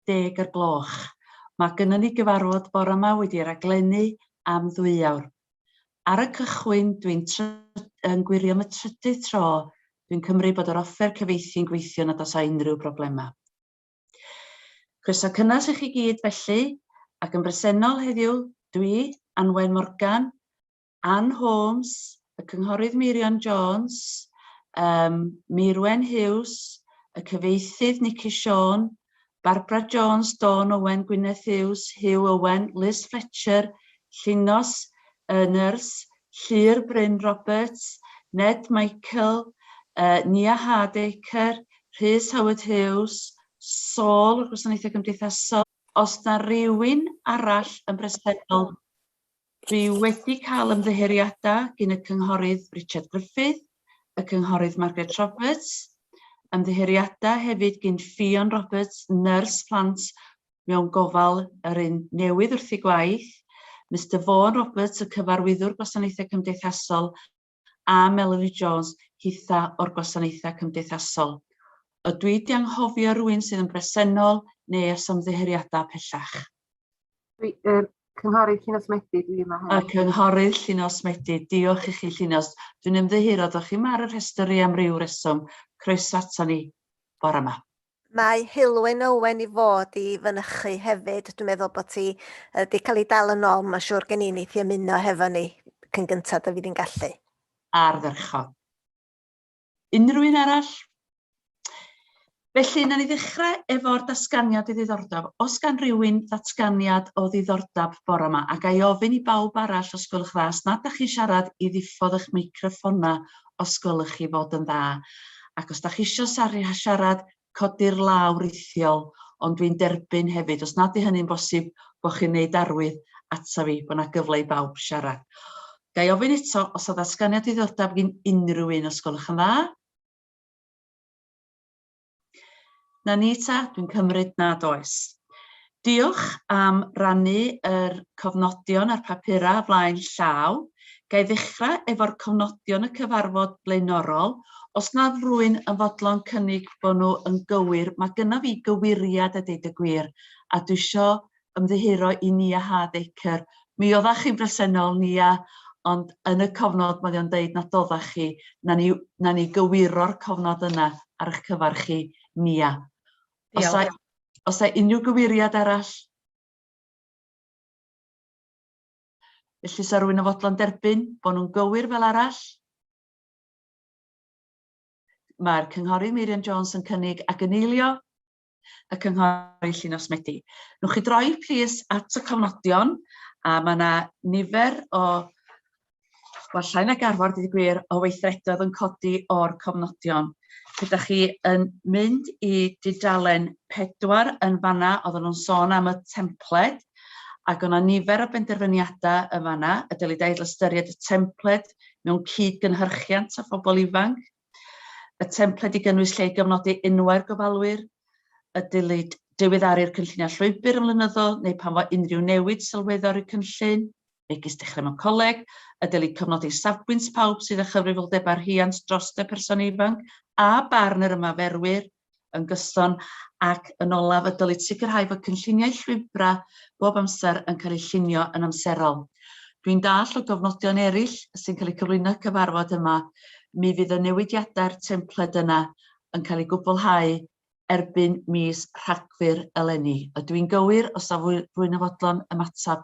deg o'r gloch. Mae gynnon ni gyfarfod bore 'ma wedi raglennu am ddwy awr. Ar y cychwyn, dwi'n yn gwirio am y trydydd tro, dwi'n cymryd bod yr offer cyfieithu'n gweithio nad oes â unrhyw broblemau. Croeso cynnes i chi gyd felly, ac yn bresennol heddiw, dwi, Anwen Morgan, Ann Holmes, y Cynghorydd Meirion Jones, um, Meirwen Hughes, y cyfeithydd Nicky Siôn, Barbara Jones, Dawn Owen, Gwyneth Hughes, Hugh Owen, Liz Fletcher, Llinos, y nyrs, Llyr Bryn Roberts, Ned Michael, uh, Nia Hardacre, Rhys Howard Hughes, Saul o'r Gwasanaethau Cymdeithasol. Os na rhywun arall yn bresennol Dwi wedi cael ymddiheuriadau gin y Cynghorydd Richard Griffith, y Cynghorydd Margaret Roberts, ymddiheuriadau hefyd gin Ffion Roberts, nyrs plant mewn gofal yr un newydd wrth ei gwaith, Mister Vaughan Roberts, y Cyfarwyddwr Gwasanaethau Cymdeithasol, a Melanie Jones hitha o'r Gwasanaethau Cymdeithasol. Ydw i 'di anghofio rwy'n sydd yn bresennol neu os ymddiheuriadau pellach? Dwi, er, Cynghorydd Llinos Medi, dwi yma hefyd. A Cynghorydd Llinos Medi, diolch i chi Llinos. Dwi'n ymddiheuro, dych chi'n mar y rhestr i am ryw reswm. Croeso ato ni bore yma. Mae Heulwen Owen i fod i fynychu hefyd. Dwi'n meddwl bod ti wedi cael ei dal yn ôl, mae'n siŵr gen i wneith i ymuno hefo ni cyn gyntaf dw i di'n gallu. Ardderchog. Unrhyw un arall? Felly, na ni ddechrau efo'r datganiad ddiddordeb. Os gan rywun ddatganiad o ddiddordeb bore yma, a ga i ofyn i bawb arall, os gwelwch yn dda, os nad ydych chi'n siarad, i ddiffodd eich meicroffona os gwelwch chi fod yn dda. Ac os da chi isio siarad, codi'r law rithiol, ond dwi'n derbyn hefyd, os nad yw hynny'n bosib, bod chi'n wneud arwydd ata fi bod yna gyfle i bawb siarad. Ga i ofyn eto os yw ddatganiad diddordeb gin unrhyw un, os gwelwch yn dda? Na ni ta, dwi'n cymryd nad oes. Diolch am rannu yr cofnodion a'r papurau flaen llaw. Ga i ddechrau efo'r cofnodion y cyfarfod blaenorol? Os nad rwy'n yn fodlon cynnig bod nhw yn gywir, mae gynna fi gywiriad a deud y gwir, a dwi isio ymddiheuro i Nia Hardacre. Mi oeddach chi'n bresennol, Nia, ond yn y cofnod mae o'n deud nad oeddach chi. Na ni, na ni gywiro'r cofnod yna ar eich cyfer chi, Nia. Os a, os a unrhyw gyweiriad arall? Felly, sa rwy'n yn fodlon derbyn bod nhw'n gywir fel arall? Mae'r Cynghorydd Meirion Jones yn cynnig ac yn eilio. y Cynghori Llinos Medi. Nwch chi droi plîs at y cofnodion a mae yna nifer o wel, llai na garfod wedi gwir o weithredoedd yn codi o'r cofnodion. Gyda chi yn mynd i dudalen pedwar yn fanna, oedden nhw'n sôn am y templed, ac o'na nifer o benderfyniadau yn fanna, y dylid ail ystyried y templed mewn cyd-gynhyrchiant â phobl ifanc, Y templed i gynnwys lle i gyfnodi enwau'r gofalwyr, y dylid diweddaru'r cynlluniau llwybr yn flynyddol neu pan fo unrhyw newid sylweddol i'r cynllun, megis dechrau mewn coleg, y dylid cofnodi safbwynt pawb sydd â chyfrifoldebau rhiant dros y person ifanc a barn yr ymarferwyr, yn gyson ac yn olaf y dylid sicrhau fod cynlluniau llwybrau bob amser yn cael eu llunio yn amserol. Dwi'n dall o gofnodion eraill sy'n cael eu cyflwyno cyfarfod yma, mi fydd y newidiadau'r templed yna yn cael eu gwblhau erbyn mis Rhagfyr eleni. Ydw i'n gywir, os na fwy na fodlon ymateb?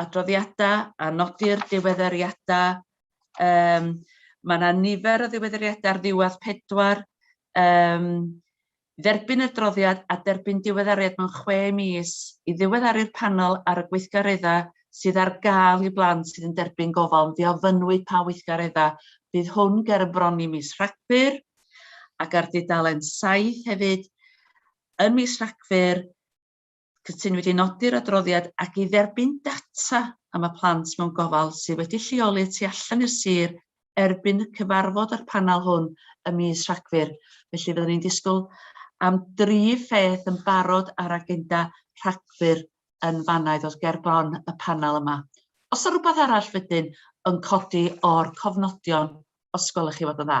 adroddiadau a nodi'r diweddariadau. Um, mae yna nifer o ddiweddariadau ar ddiwedd pedwar. Um, dderbyn y droddiad a derbyn diweddariad mewn chwe mis i ddiweddaru'r panel ar y gweithgareddau sydd ar gael i blant sydd yn derbyn gofal. Fe ofynnwyd pa weithgareddau bydd hwn ger y bron i mis Rhagfyr ac ar dudalen 7 hefyd yn mis Rhagfyr Cytunwyd wedi nodi'r adroddiad ac i dderbyn data am y plant mewn gofal sydd wedi lleoli tu allan i'r sir erbyn y cyfarfod â'r panel hwn ym mis Rhagfyr. Felly fyddwn ni'n disgwyl am dri pheth yn barod ar agenda Rhagfyr yn fanna i ddod ger bron y panel yma. Os yna rhywbeth arall wedyn yn codi o'r cofnodion, os gwelwch chi fod yn dda.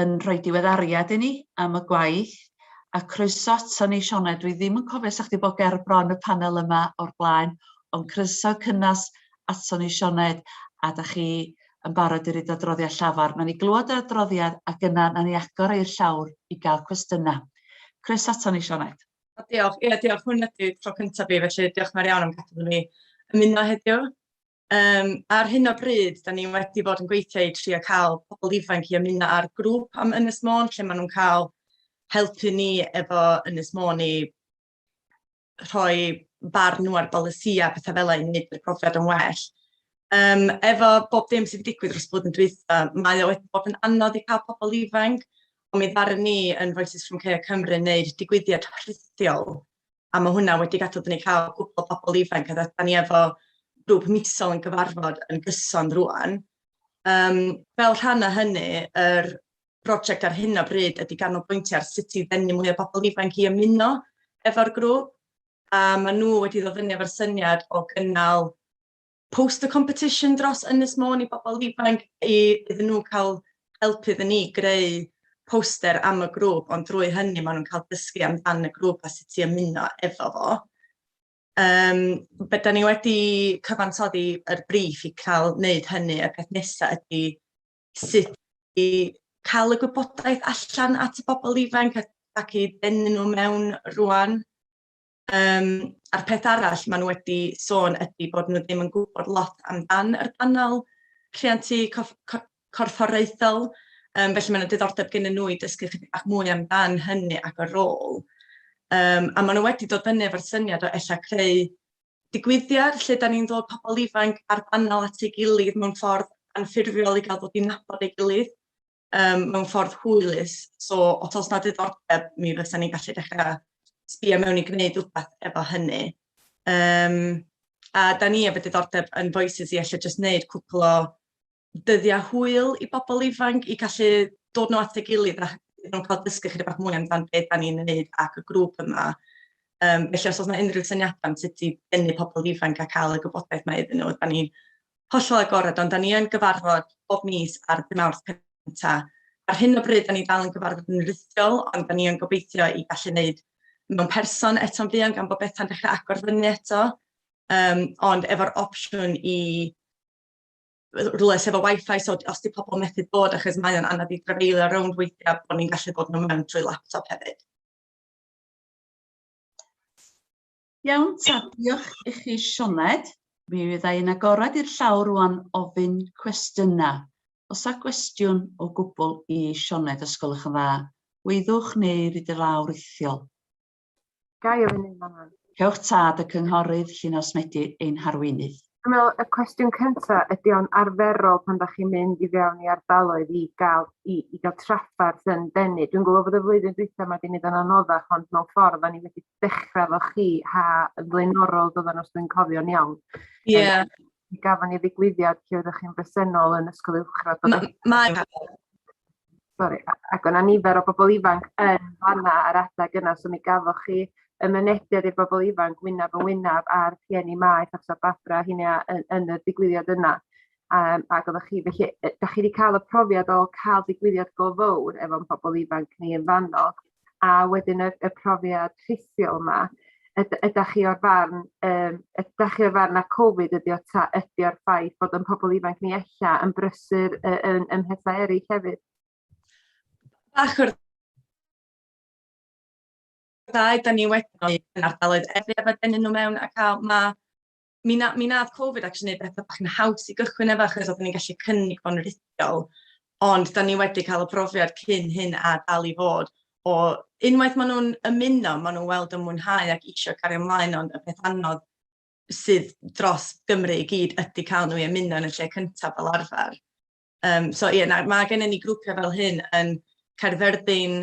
yn rhoi diweddariad i ni am y gwaith, a croeso ato ni Sioned, dwi ddim yn cofio os o'ch chdi bod ger bron y panel yma o'r blaen, ond croeso cynnas ato ni Sioned, a da chi yn barod i roid adroddiad llafar. Wnawn ni glywed yr adroddiad ac yna wnawn ni agor i'r llawr i gael cwestiynau. Croeso ato ni Sioned. O, diolch, ie diolch, hwn ydy tro cyntaf fi felly diolch yn fawr iawn am gadw ni ymuno heddiw. Um, ar hyn o bryd, da ni wedi bod yn gweithio i trio cael pobl ifanc i ymuno ar grŵp am Ynys Môn, lle maen nhw'n cael helpu ni efo Ynys Môn i rhoi barn nhw ar bolisi a pethau fel ein wneud i'r profiad yn well. Um, efo bob dim sydd wedi digwydd dros bod yn dweitha, mae o wedi bod yn anodd i cael pobl ifanc, ond mi ddaru ni yn Voices from Care Cymru wneud digwyddiad rhithiol a mae hwnna wedi gadw dyn ni cael gwybod pobl ifanc a dda ni efo grŵp misol yn gyfarfod yn gyson rwan. Um, fel rhan o hynny, yr er brosiect ar hyn o bryd ydy ganolbwyntio ar sut i ddenu mwy o bobl ifanc i ymuno efo'r grŵp. A mae nhw wedi ddod fyny efo'r syniad o gynnal poster competition dros Ynys Môn i bobl ifanc i iddyn nhw cael help iddyn ni greu poster am y grŵp, ond drwy hynny maen nhw'n cael dysgu amdan y grŵp a sut i ymuno efo fo. Um, Byddwn ni wedi cyfansoddi yr briff i cael wneud hynny, y peth nesaf ydy sut i cael y gwybodaeth allan at y bobl ifanc ac i denu nhw mewn rwan. Um, a'r peth arall maen nhw wedi sôn ydy bod nhw ddim yn gwybod lot amdan yr banel rhiantu corfforaethol, um, felly mae'n diddordeb gen nhw i dysgu chydig bach mwy amdan hynny ac y rôl. Um, a maen nhw wedi dod fyny efo'r syniad o ella creu digwyddiad lle da ni'n ddod pobl ifanc a'r banel at ei gilydd mewn ffordd anffurfiol i gael dod i nabod ei gilydd. um, mewn ffordd hwylus. So, os oes na diddordeb, mi fysa ni'n gallu dechrau sbio mewn i gwneud rhywbeth efo hynny. Um, a da ni efo diddordeb yn Voices i allai jyst wneud cwpl o dyddiau hwyl i bobl ifanc i gallu dod nhw at ei gilydd a iddyn nhw'n cael dysgu chyda bach mwy amdano beth da ni'n wneud ac y grŵp yma. Um, felly os oes yna unrhyw syniadau am sut i bennu pobl ifanc a cael y gwybodaeth mae iddyn nhw, da ni hollol agored, ond da ni yn gyfarfod bob mis ar dy mawrth cynta. Ar hyn o bryd, da ni dal yn gyfarfod yn rhithiol, ond da ni yn gobeithio i gallu wneud mewn person eto'n fuan gan bod bethau'n dechrau agor fyny eto, um, ond efo'r opsiwn i rhywle sef o wifi, so os di pobl methu bod, achos mae o'n anodd i drafeilio rownd weithiau, bod ni'n gallu bod nhw mewn trwy laptop hefyd. Iawn ta, diolch i chi Sioned. Mi fydda i'n agored i'r llawr rwan ofyn cwestiynau. Os a gwestiwn o gwbl i Sioned, os gwelwch yn dda, weithwch neu ryd y lawr rithiol. Ga i ofyn un fan'na? Cewch tad y cynghorydd Llinos Medi ein harweinydd. Dwi'n meddwl y cwestiwn cynta ydy o'n arferol pan da chi'n mynd i fewn i ardaloedd i gael i, i gael trafferth yn denu. Dwi'n gwybod bod y flwyddyn dwytha mae wedi mynd yn anoddach ond mewn ffordd o'n i wedi dechrau efo chi, ha yn flaenorol doedden nhw, os dwi'n cofio'n iawn. Ie. Yeah. Mi gafon ni ddigwyddiad lle oeddech chi'n bresennol yn Ysgol Uwchradd. Mae... Sorry, ac o'na nifer o bobl ifanc yn fanna ar adeg yna, so mi gafoch chi y mynediad i'r bobl ifanc wynaf yn wynaf a'r rhieni maeth achos a Barbara hynny yn, yn y digwyddiad yna. Yym ag oddach chi felly yy 'dach chi 'di ca'l y profiad o ca'l digwyddiad go fowr efo'n pobol ifanc ni yn fanno a wedyn y y profiad rhithiol 'ma yd- ydach chi o'r farn yym ydach chi o'r farn ma' Cofid ydi o ta ydi o'r ffaith bod o'n pobol ifanc ni ella yn brysur yy yn yn mhetha eryll hefyd? Bach o'r ddau 'dan ni wedi yn ardaloedd a denu n'w mewn a ca'l ma' mi, na, mi nath Covid actually neud bethau bach yn haws i gychwyn efo achos oeddwn ni'n gallu cynnig fo'n rhithiol. Ond da ni wedi cael y profiad cyn hyn a dal i fod o unwaith maen nhw'n ymuno, maen nhw'n weld y mwynhau ac eisiau cario ymlaen ond y peth anodd sydd dros Gymru i gyd ydy cael nhw i ymuno yn y lle cyntaf fel arfer. Um, so ie, yeah, mae gennym ni grwpiau fel hyn yn Caerfyrddin,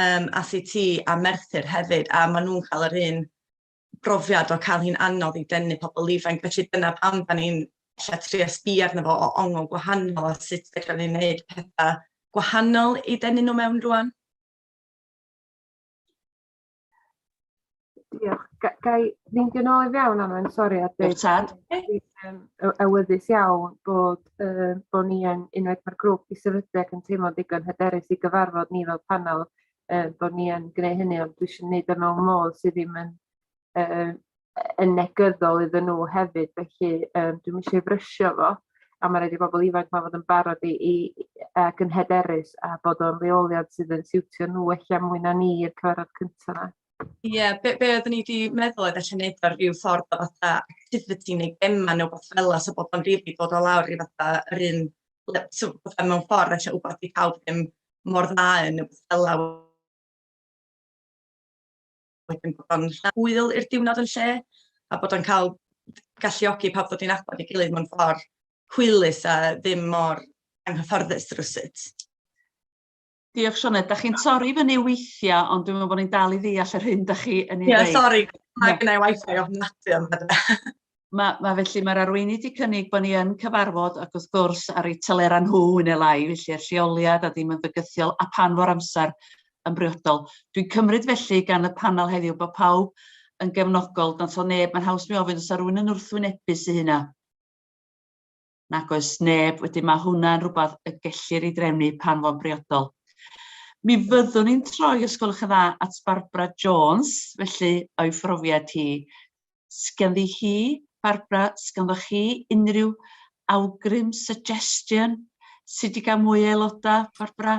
um, ACT a Merthyr hefyd a maen nhw'n cael yr un brofiad o cael hi'n anodd i denu pobl ifanc, felly dyna pam da ni'n lle tri ysbi arno fo o ongl gwahanol a sut fedrwn ni'n gwneud pethau gwahanol i denu nhw mewn rwan. Diolch. Ga, ga i fynd yn ôl i fewn am yn sori a dweud... Tad. ...yn awyddus iawn bod, uh, bod ni yn unwaith mae'r grŵp i sefydlu ac yn teimlo digon hyderus i gyfarfod ni fel panel uh, bod ni yn gwneud hynny, ond dwi eisiau gwneud e mewn modd sydd ddim yn, uh, yn negyddol iddyn nhw hefyd, felly um, dwi'n eisiau frysio fo, a mae'n rhaid i bobl ifanc mae fod yn barod i, i ac yn hyderus a bod o'n leoliad sydd yn siwtio nhw eich am mwy na ni i'r cyfarfod cyntaf yna. Ie, yeah, be, be oeddwn i wedi meddwl oedd allan neud ar rhyw ffordd o fatha activity neu gemma neu beth fel yna, so bod o'n rili dod o lawr i fatha yr un, so fatha mewn ffordd allan wybod i pawb ddim mor dda yn y gwella wedyn bod o'n hwyl i'r diwrnod yn lle a bod o'n cael galluogi pawb ddod i'n abod i gilydd mewn ffordd hwylus a ddim mor anghyfforddus rwsut. Diolch Sioned, da chi'n torri fyny weithiau ond dwi'n meddwl bod ni'n dal i ddeall yr hyn da chi yn ei ddeud. Ie, sori, mae gennau wifi ofnadwy am hynny. Ma' ma' felly ma'r arweinydd 'di cynnig bo' ni yn cyfarfod ac wrth gwrs ar eu telera nhw yn ne' lai felly a'r lleoliad a ddim yn fygythiol a phan fo'r amser yn briodol. Dwi'n cymryd felly gan y panel heddiw bo' pawb yn gefnogol, nantso neb, ma'n haws mi ofyn os 'a rywun yn wrthwynebu sy hynna? nag oes neb, wedyn mae hwnna'n rhywbeth y gellir ei drefnu pan fo'n briodol. Mi fyddwn ni'n troi, os gwelwch yn dda, at Barbara Jones, felly o'i phrofiad hi. Sganddi hi, Barbara, sganddo chi unrhyw awgrym, suggestion, sut i gael mwy o aelodau, Barbara?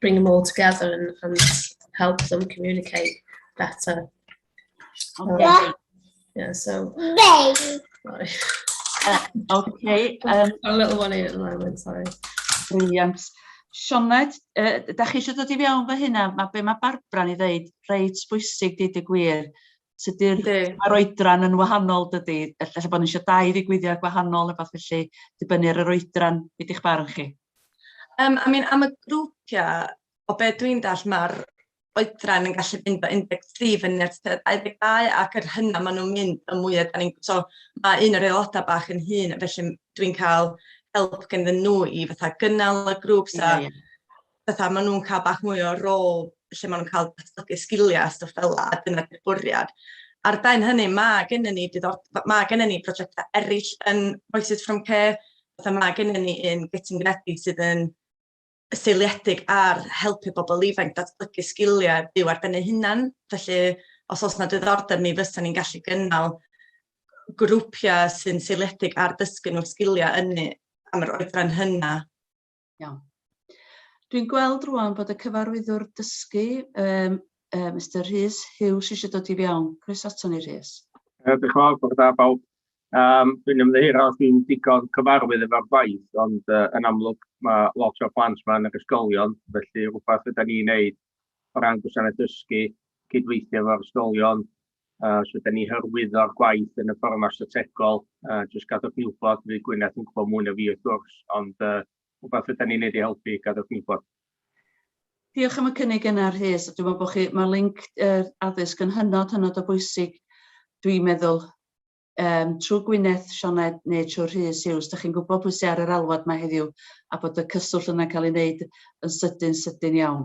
bring them all together and, and help them communicate better. Okay. Um, yeah, so. Sorry. Uh, okay. Um, a little one in at the moment, sorry. Brilliant. Sioned, uh, da chi eisiau dod i fewn fy hynna, mae be mae Barbara ni ddeud, reit bwysig dyd y gwir, Tydy'r mae'r oedran yn wahanol dydy. Ella bod ni eisiau dau ddigwyddiad gwahanol neu beth felly, dibynnu ar yr oedran, beth i'ch barn chi? Um, I mean, am y grwpiau, o be dwi'n dall, mae'r oedran yn gallu mynd o 13 fyny at 22 ac yr hynna maen nhw'n mynd y mwy da ni'n... So mae un o'r aelodau bach yn hun, felly dwi'n cael help gen ddyn nhw i fatha gynnal y grŵp. So, yeah, yeah. fatha maen nhw'n cael bach mwy o rôl lle maen nhw'n cael datblygu sgiliau a stwff fel yna, a dyna di'r bwriad. Ar ben hynny, mae gennym ni, mae gennym ni prosiectau eraill yn Voices from Care, fatha mae gennym ni un Getting Ready sydd yn seiliedig ar helpu bobl ifanc datblygu sgiliau byw ar ben eu hunan. Felly, os oes yna diddordeb, mi fysa ni'n gallu gynnal grwpiau sy'n seiliedig ar dysgu nhw sgiliau ynni am yr oedran hynna. Iawn. Dwi'n gweld rwan bod y cyfarwyddwr dysgu, um, uh, Mr Rhys Hughes, eisiau dod i fiawn. Chris ato ni, Rhys. Uh, Diolch yn fawr, bod da bawb. Um, dwi'n ymddeir os dwi'n digon cyfarwydd efo'r gwaith, ond uh, yn amlwg mae lot o plant yma yn yr ysgolion, felly rhywbeth ydyn ni'n neud o ran gwasanaeth dysgu, cydweithio efo'r ysgolion, Uh, so, da ni hyrwyddo'r gwaith yn y ffordd yma strategol. Uh, just gadwch ni wybod, fi Gwyneth yn gwybod mwy na fi wrth gwrs, ond uh, rhywbeth ydym ni'n neud i helpu, gadwch ni wybod. Diolch am y cynnig yna, Rhys. Dwi'n meddwl bod chi, mae link uh, addysg yn hynod, hynod o bwysig, dwi'n meddwl, um, trwy Gwyneth, Sioned neu trwy Rhys Hughes, da chi'n gwybod pwy sy'n ar yr alwad mae heddiw a bod y cyswllt yna'n cael ei wneud yn sydyn, sydyn iawn.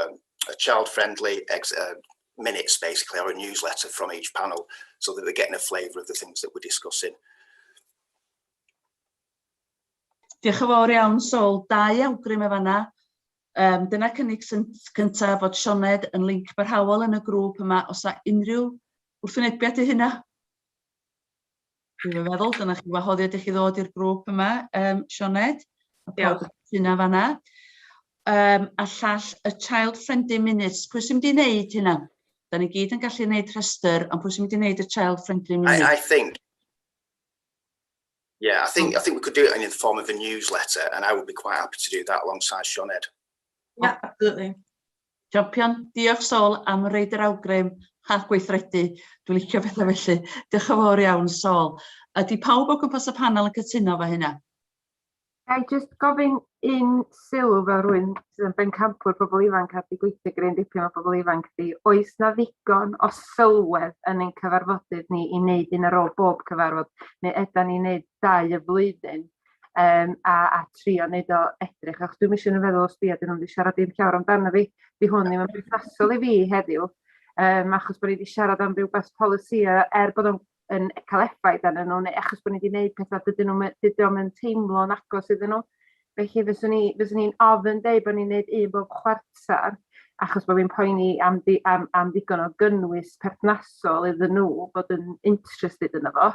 um, a child-friendly uh, minutes, basically, or a newsletter from each panel, so that they're getting a flavour of the things that we're discussing. Diolch yn fawr iawn, Sol. Dau awgrym efo yna. Um, dyna cynnig cyntaf fod Sioned yn linc barhaol yn y grŵp yma os a unrhyw wrthwynebiad i hynna. Dwi'n meddwl, dyna chi wahoddiad i chi ddod i'r grŵp yma, um, Sioned. A pawb yn cytuno fanna. Um, a llall y Child Friendly Minutes. Pwy sy'n mynd i wneud hynna? Da ni gyd yn gallu gwneud rhestr, ond pwy sy'n mynd i wneud y Child Friendly Minutes? I, I think Yeah, I think I think we could do it in the form of a newsletter, and I would be quite happy to do that alongside Sioned. Yeah, absolutely. Champion. Diolch Sol am roid yr awgrym a gweithredu. Dwi'n licio pethau felly. Diolch yn fawr iawn Sol. Ydy pawb o gwmpas y panel yn cytuno efo hynna? Ga i jyst gofyn un sylw fel rwy'n sydd yn bencampwr pobl ifanc a di gweithio gryn dipyn o bobl ifanc di, oes na ddigon o sylwedd yn ein cyfarfodydd ni i wneud un ar ôl bob cyfarfod, neu ydan ni'n wneud dau y flwyddyn? um, a, a trio wneud o edrych. Ac dwi'n eisiau yn feddwl os di, a dyn nhw'n wedi siarad i'n llawr amdano fi, di hwn ddim yn berthnasol i fi heddiw, um, achos bod ni wedi siarad am rhywbeth polisi er bod o'n yn cael effaith arnyn nhw, neu achos bod ni wedi gwneud pethau dydyn nhw, dydyn nhw'n teimlo'n agos iddyn nhw. Felly fyswn i'n fyswn i'n ofyn dweud bod ni'n gwneud un bob chwarter, achos bod fi'n poeni am, di, am, am ddigon o gynnwys perthnasol iddyn nhw bod yn interested yn efo.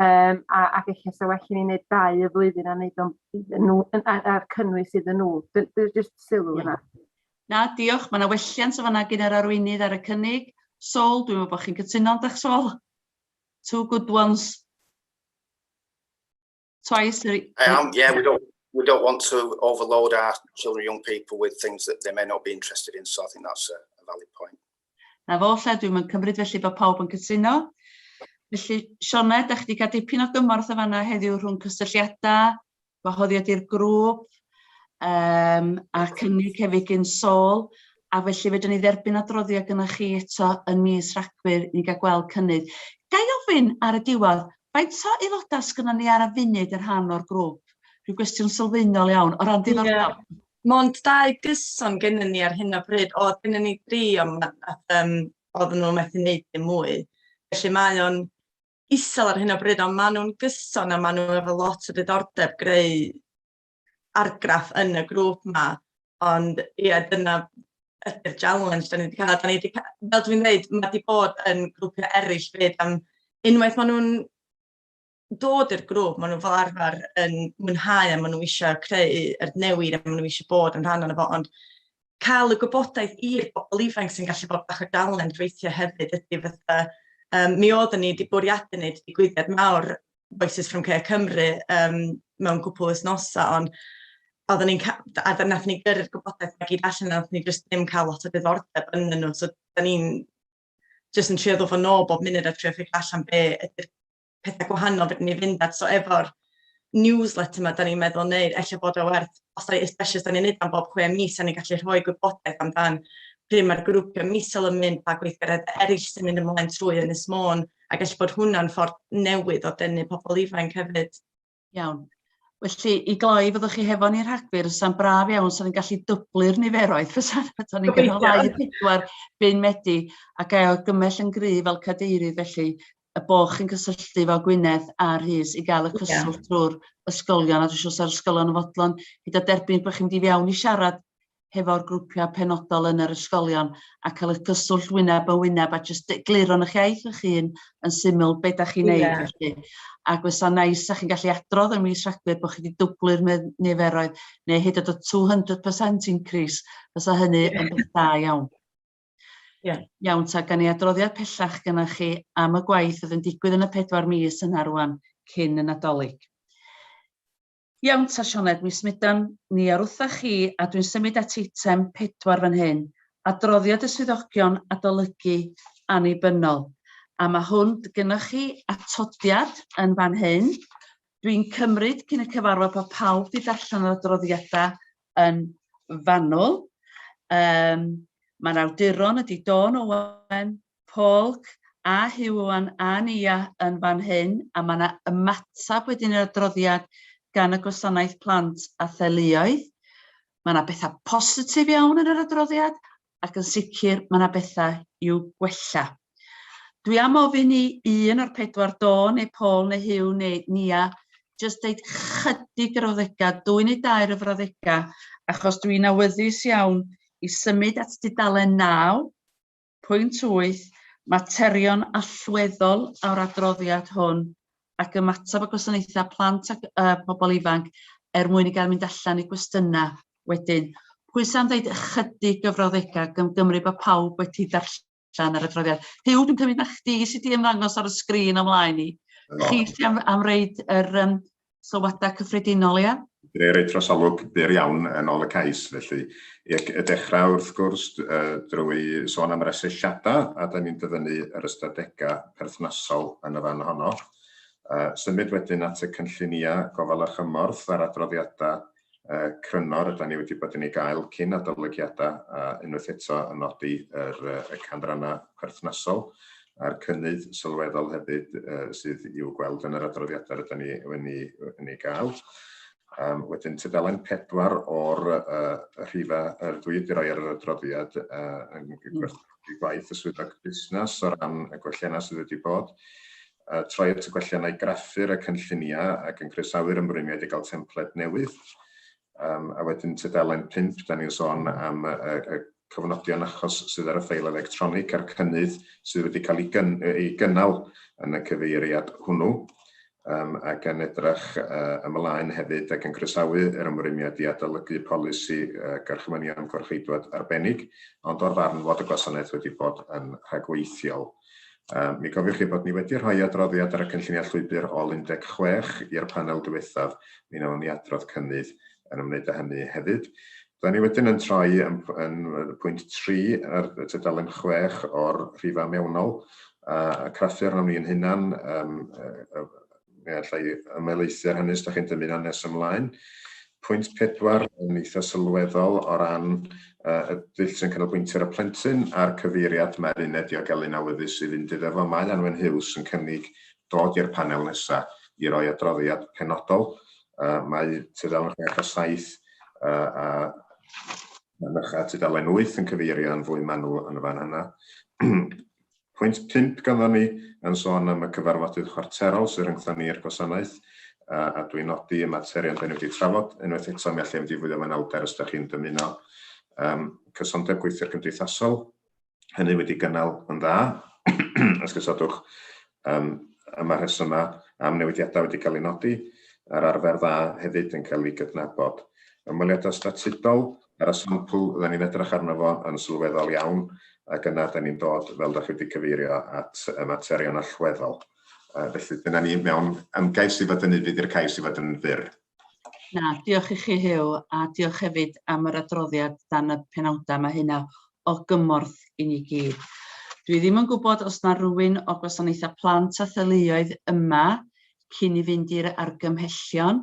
Yym a ac ella sa well i ni neud dau o flwyddyn a neud o'n iddyn nhw yn a- a'r cynnwys iddyn nhw. Dy- dy- jyst sylw yna. Na, diolch. Mae yna welliant yn fanna gin yr arweinydd ar y cynnig. Sol, dwi'n meddwl bod chi'n cytuno, yndych Sol? Two good ones. Twice. I am, yeah, we don't, we don't want to overload our children and young people with things that they may not be interested in, so I think that's a, a valid point. Na fo 'lle, dwi'm yn cymryd felly bod pawb yn cytuno. Felly, Sioned, dach chi 'di cael dipyn o gymorth yn fan'na heddiw rhwng cysylltiadau, gwahoddiad i'r grŵp, um, a cynnig hefyd gyn Sol, a felly fedrwn ni dderbyn adroddiad gyda chi eto yn mis Rhagfyr i ni gael gweld cynnydd. Ga i ofyn ar y diwedd, faint o aelodau sgynnon ni ar y funud yn rhan o'r grŵp? Rhyw gwestiwn sylfaenol iawn, o ran diddordeb. Yeah. Mond dau gyson gennyn ni ar hyn o bryd. Oedd gennyn ni dri ond ma' nath yym oedden nhw methu neud dim mwy. Felly mae o'n isel ar hyn o bryd ond maen nhw'n gyson a maen nhw efo lot o diddordeb greu argraff yn y grŵp 'ma. Ond ie dyna ydi'r challenge 'dan ni 'di ca'l. 'Dan ni 'di ca- fel dwi'n ddeud ma' 'di bod yn grwpia' eryll 'fyd am unwaith ma' nhw'n dod i'r grŵp, maen nhw fel arfer yn mwynhau a maen nhw eisiau creu yr newid a maen nhw eisiau bod yn rhan o'n efo, ond cael y gwybodaeth i'r bobl ifanc sy'n gallu bod bach o dalen gweithio hefyd ydy fatha, um, mi oeddwn ni wedi bwriadu wneud digwyddiad mawr Voices from Care Cymru um, mewn cwpl wythnosau, ond oeddwn ni'n cael, a nath ni gyrru'r gwybodaeth mae gyd allan, nath ni jyst ddim cael lot o ddiddordeb yn nhw, so da ni'n jyst yn trio ddod o'n ôl bob munud a trio ffeig allan be ydy'r pethau gwahanol fedrwn ni fynd at. So efo'r newsletter yma, da ni'n meddwl neu efallai bod o werth, os da, especially os da ni'n neud am bob chwe mis, da ni'n gallu rhoi gwybodaeth amdan pryd mae'r grwpiau misol yn mynd, pa gweithgaredd eraill sy'n mynd ymlaen trwy Ynys Môn, a gallu bod hwnna'n ffordd newydd o dynnu pobl ifanc hefyd. Iawn. Felly, i gloi, fyddwch chi hefo ni rhagfyr, sa'n braf iawn, sa'n ni'n gallu dyblu'r niferoedd, fysa'n fysa'n ni'n gynnal ddau i pedwar byn medi, a gael gymell yn gryf fel cadeirydd, felly, y bo chi'n cysylltu fel Gwynedd a Rhys i gael y cyswllt drwy'r ysgolion, a dwi'n siŵr sa'r ysgolion yn fodlon gyda derbyn bod chi'n mynd i fiawn i siarad hefo'r grwpiau penodol yn yr ysgolion a cael eich cyswllt wyneb yn wyneb a jyst egluro yn eich iaith eich hun yn syml beth da chi'n yeah. neud felly. Ac fysa nais a chi'n gallu adrodd yn mis Rhagfyr bod chi wedi dwblu'r niferoedd neu hyd at y 200% increase, fysa hynny yeah. yn beth da iawn. Yeah. Iawn, ta gan i adroddiad pellach gyda chi am y gwaith oedd yn digwydd yn y pedwar mis yna rwan cyn y Nadolig. Iawn ta Sioned, mi smudan ni ar wtha chi a dwi'n symud at eitem pedwar fan hyn, adroddiad y swyddogion adolygu annibynnol, a ma' hwn, gynnoch chi atodiad yn fan hyn. Dwi'n cymryd cyn y cyfarfod bod pawb 'di darllen yr adroddiada yn fanwl. Yym ma'r awduron ydi Dawn Owen, Polk a Huon a Nia yn fan hyn a mae yna ymateb wedyn i'r adroddiad gan y Gwasanaeth Plant a Theuluoedd. Mae yna bethau positif iawn yn yr adroddiad ac yn sicr mae yna bethau i'w gwella. Dwi am ofyn i un o'r pedwar do neu Paul neu Hugh neu Nia jyst deud chydig yr frawddegau, dwy neu dair o frawddegau, achos dwi'n awyddus iawn i symud at dudalen naw. Pwynt wyth, Materion allweddol o'r adroddiad hwn ac ymateb y gwasanaethau plant a uh, pobl ifanc er mwyn i gael mynd allan i gwestiynau wedyn. Pwy sa'n dweud ychydig gyfrawddegau gan gymru bod pawb wedi darllen yr adroddiad? Huw, dwi'n cymryd na chdi sydd wedi ymddangos ar y sgrin o'm mlaen i. Chi sydd am, am reid yr, um, Sylwadau cyffredinol, ia? Dwi roi trosolwg byr iawn yn ol y cais felly. Ac y dechrau wrth gwrs drwy sôn am yr asesiadau a dan ni'n dyfynnu yr ystadegau perthnasol yn y fan honno. Symud wedyn at y cynlluniau gofal a chymorth a'r adroddiadau yy cryno rydyn ni wedi bod yn ei gael cyn adolygiadau a unwaith eto yn nodi yr yy y canrannau perthnasol a'r cynnydd sylweddol hefyd yy sydd i'w gweld yn yr adroddiadau rydyn ni yn ei, yn ei gael. Um, wedyn tudalen pedwar o'r uh, rhifa yr dwi wedi rhoi ar yr adroddiad uh, yn gwerthu gwaith y swyddog busnes o ran y gwelliannau sydd wedi bod. a troi at y gwelliannau graffu'r y cynlluniau ac yn croesawu'r ymrwymiad i gael templed newydd. Um, a wedyn tudalen 5, da ni'n sôn am y, y, y cofnodion achos sydd ar y ffeil electronig a'r cynnydd sydd wedi cael ei, gyn, ei gynnal yn y cyfeiriad hwnnw um, ac yn edrych uh, ymlaen hefyd ac yn croesawu yr ymrwymiad i adolygu polisi uh, gorchmynion gorchfeidwad arbennig, ond o'r farn fod y gwasanaeth wedi bod yn rhagweithiol Mi gofiwch chi bod ni wedi rhoi adroddiad ar y cynlluniau llwybr ol 16 i'r panel diwethaf, mi wnawn ni adrodd cynnydd yn ymwneud â hynny hefyd. Rydan ni wedyn yn troi yn pwynt 3 ar tudalen 6 o'r rhifau mewnol, a craffu arnom ni ein hunan, Fe alla i ymelaethu ar hynny os da chi'n dymuno yn nes ymlaen. Pwynt pedwar yn eitha sylweddol o ran y dull sy'n canolbwyntio ar y plentyn a'r cyfeiriad mae'r uned diogelu'n awyddus i fynd iddo fo. Mae Anwen Huws yn cynnig dod i'r panel nesa i roi adroddiad penodol. Mae tudalen chwech a saith a mynycha tudalen wyth yn cyfeirio yn fwy manwl yn y fan yna. Pwynt pump ganddo ni yn sôn am y cyfarfodydd chwarterol sydd rhyngthon ni i'r gwasanaeth, a dwi'n nodi y materion dan ni wedi trafod. Unwaith eto, mi allai ymddifwyddio ym manylder os dach chi'n dymuno. Yym, cysondeb gweithwyr cymdeithasol, hynny wedi gynnal yn dda, esgusodwch, yym, a ma' rhesymau am newidiadau wedi cael eu nodi, a'r arfer dda hefyd yn cael ei gydnabod. Ymweliadau statudol, Ar y sampl oedden ni'n edrych arno fo yn sylweddol iawn, ac yna dan ni'n dod, fel dach chi wedi cyfeirio, at y materion allweddol. Yy felly dyna ni mewn ymgais i fod yn ufudd i'r cais i fod yn fyr. Na, diolch i chi Huw, a diolch hefyd am yr adroddiad dan y penawdau, mae hynna o gymorth i ni gyd. Dwi ddim yn gwybod os na rywun o Gwasanaethau Plant a Theuluoedd yma cyn i fynd i'r argymhellion,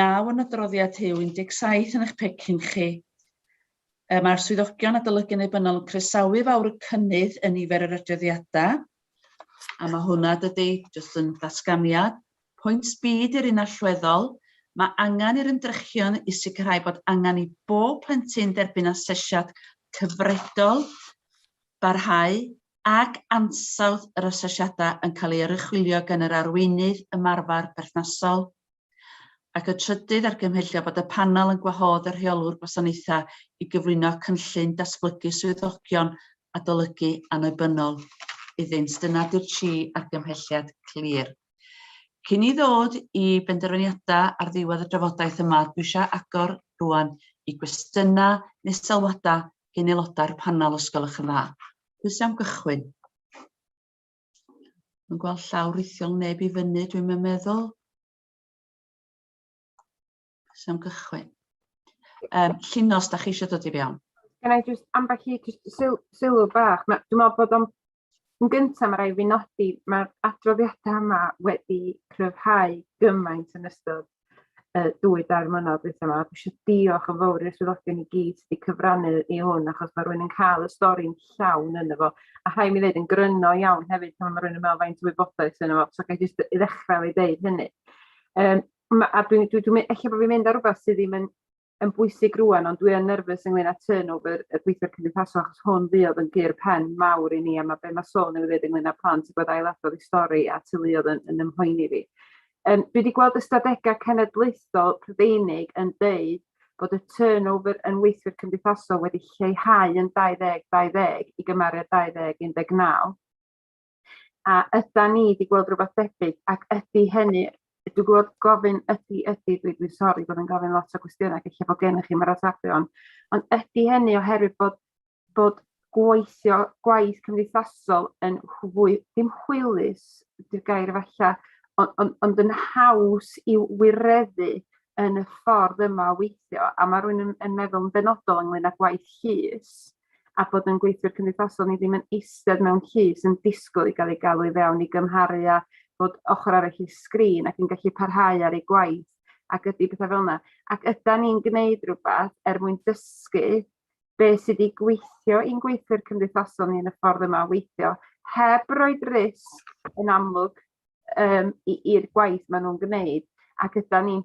Naw yn adroddiad Rhiw 17 yn eich pecyn chi. Yy mae'r swyddogion adolygu annibynnol yn croesawu fawr y cynnydd yn nifer yr adroddiadau. A mae hwnna dydy, jyst yn datganiad. Pwynt B di'r un allweddol. Mae angen i'r ymdrechion i sicrhau bod angen i bob plentyn derbyn asesiad cyfredol, barhau ac ansawdd yr asesiadau yn cael ei oruchwylio gan yr arweinydd ymarfer perthnasol. Ac y trydydd, argymhellio bod y Panel yn gwahodd y Rheolwr Gwasanaethau i gyflwyno cynllun datblygu swyddogion adolygu annibynnol iddynt. Dyna di'r tri argymhelliad clir. Cyn i ddod i benderfyniadau ar ddiwedd y drafodaeth yma, dwi eisiau agor rwan i gwestiynau neu sylwadau gen aelodau'r panel os gwelwch yn dda. Pwy sy'n am gychwyn? Mae'n gweld llaw rithiol neb i fyny, dwi'n mynd meddwl. Sam gychwyn. Um, Llinos, da chi eisiau dod i fewn? Can I just, am bach i sylw bach, dwi'n meddwl bod o'n yn gyntaf mae rhaid fi nodi, mae'r adroddiadau yma wedi cryfhau gymaint yn ystod y dwy dair mlynedd dwytha yma. Dwi eisiau diolch yn fawr i'r swyddogion i gyd sydd wedi cyfrannu i hwn, achos mae rhywun yn cael y stori'n llawn yn efo. A rhai mi ddweud yn gryno iawn hefyd pan mae rhywun yn meddwl faint o wybodaeth yn efo, so gael jyst i ddechrau i ddeud hynny. Um, a dwi'n dwi, dwi, dwi, bod fi'n mynd ar rhywbeth sydd ddim yn yn bwysig rŵan, ond dwi yn nerfus ynglyn â turnover y gweithwyr cymdeithasol, achos hwn fuodd yn gur pen mawr i ni, a mae be mae Sol newydd ddeud ynglyn â plant sy'n bod ailadrodd i stori a teuluodd yn, yn ymhoeni fi. Um, dwi wedi gweld ystadegau cenedlaethol Prydeinig yn deud bod y turnover yn weithwyr cymdeithasol wedi lleihau yn 2020 i gymharu â 2019. A yda ni wedi gweld rhywbeth debyg ac ydy hynny dwi'n gwybod gofyn ydy ydy dwi dwi'n sori bod yn gofyn lot o gwestiynau ac eich bod gennych chi'n maratebion ond ydy hynny oherwydd bod bod gweithio gwaith cymdeithasol yn fwy dim hwylus di'r gair efalla ond ond ond yn haws i wireddu yn y ffordd yma o weithio a mae rhywun yn yn meddwl yn benodol ynglŷn â gwaith llys a bod yn gweithwyr cymdeithasol ni ddim yn eistedd mewn llys yn disgwyl i gael ei galw i fewn i gymharu a bod ochr arall i sgrin ac yn gallu parhau ar ei gwaith ac ydy pethau fel yna. Ac yda ni'n gwneud rhywbeth er mwyn dysgu be sydd wedi gweithio i'n gweithwyr cymdeithasol ni yn y ffordd yma o weithio, heb roed risg yn amlwg um, i'r gwaith maen nhw'n gwneud, ac yda ni'n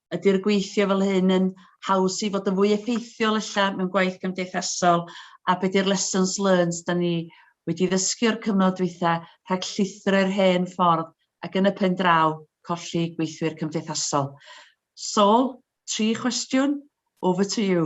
Ydy'r gweithio fel hyn yn haws i fod yn fwy effeithiol ella mewn gwaith cymdeithasol a be di'r lessons learned da ni wedi ddysgu o'r cyfnod dwytha rhag llithro i'r hen ffordd ac yn y pen draw colli gweithwyr cymdeithasol? Saul, tri chwestiwn, over to you.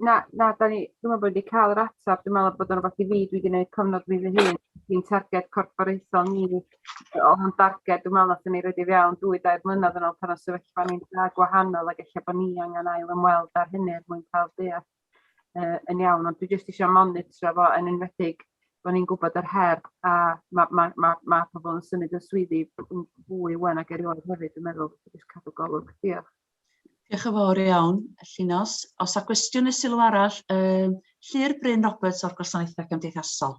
Na, na, da ni, dwi'n meddwl bod wedi cael yr ateb, dwi'n meddwl bod o'n rhywbeth i fi, dwi wedi gwneud cyfnod fi fy hun, dwi'n targed corfforaethol ni, o'n darged, dwi'n meddwl nath ni roed i fi awn dwy dair mlynedd yn ôl pan o sefyllfa ni'n dda gwahanol ac eich bod ni angen ail ymweld ar hynny er mwyn cael deall uh, yn iawn, ond dwi jyst eisiau monitro fo yn enwedig bod ni'n gwybod yr her a mae ma, ma, ma pobl yn symud yn swyddi fwy wen ac erioed hefyd, dwi'n meddwl, jyst cadw golwg. Diolch. Diolch yn fawr iawn, Llinos. Os a gwestiwn neu sylw arall, um, Llyr Bryn Roberts o'r Gwasanaethau Cymdeithasol.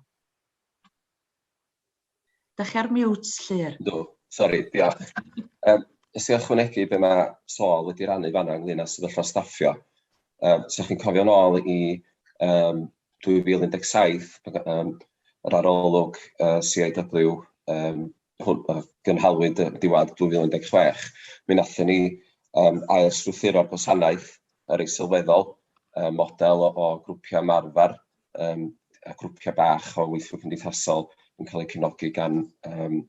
Da chi ar mute, Llyr. Do, sori, diolch. Um, os i ychwanegu be mae Sol wedi rannu fanna ynglyn â sefyllfa staffio, um, so chi'n cofio'n ôl i um, 2017, um, yr arolwg uh, CIW um, hwn, uh, gynhalwyd y diwadd 2016, mi nathon ni um, ailstrwythuro'r gwasanaeth yr ei sylweddol, um, model o, o grwpiau marfer um, a grwpiau bach o weithwyr cymdeithasol yn cael eu cefnogi gan um,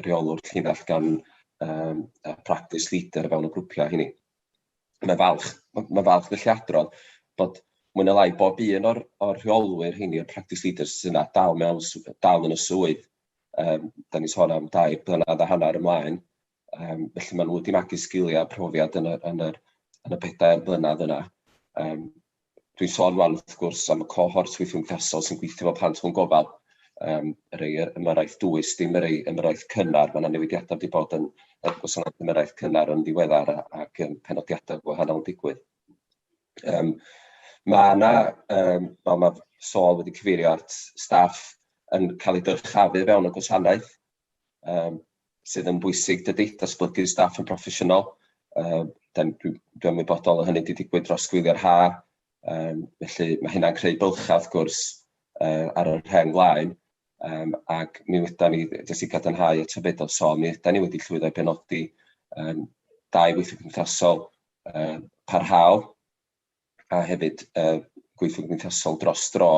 reolwr llinell gan um, practice leader o fewn y grwpiau hynny. Mae'n falch, mae'n falch felly adrodd bod mwy na lai bob un o'r, or rheolwyr hynny, o'r practice leaders sy'n yna dal, mewn, dal yn y swydd yym dan ni'n sôn am dair blynedd a hanner ymlaen, yym felly maen nhw wedi magu sgiliau a profiad yn y yn yr yn y pedair blynedd yna. Yym dwi'n sôn rŵan wrth gwrs am y cohort weithio sy'n gweithio efo plant mewn gofal, yym y rhai yy ymyrraeth dwys, dim y rhai ymyrraeth cynnar, ma' 'na newidiadau wedi bod yn yn gwasanaeth ymyrraeth cynnar yn ddiweddar a- ac yym penodiadau gwahanol yn digwydd. Yym ma' 'na yym fel ma' Saul wedi cyfeirio at staff yn cael eu dyrchafu fewn y gwasanaeth, yym sydd yn bwysig dydi, datblygu staff yn broffesiynol, yym dan dwi dwi ymwybodol o hynny 'di digwydd dros gwyliau'r haf, yym felly ma' hynna'n creu bylchau wrth gwrs yy ar yr rheng flaen, yym ac mi ydan ni, jyst i gadarnhau eto be do Saul, mi ydan ni wedi llwyddo i benodi yym dau weithlu cymdeithasol uh, parhaol, a hefyd uh, gweithio gymdeithasol dros dro,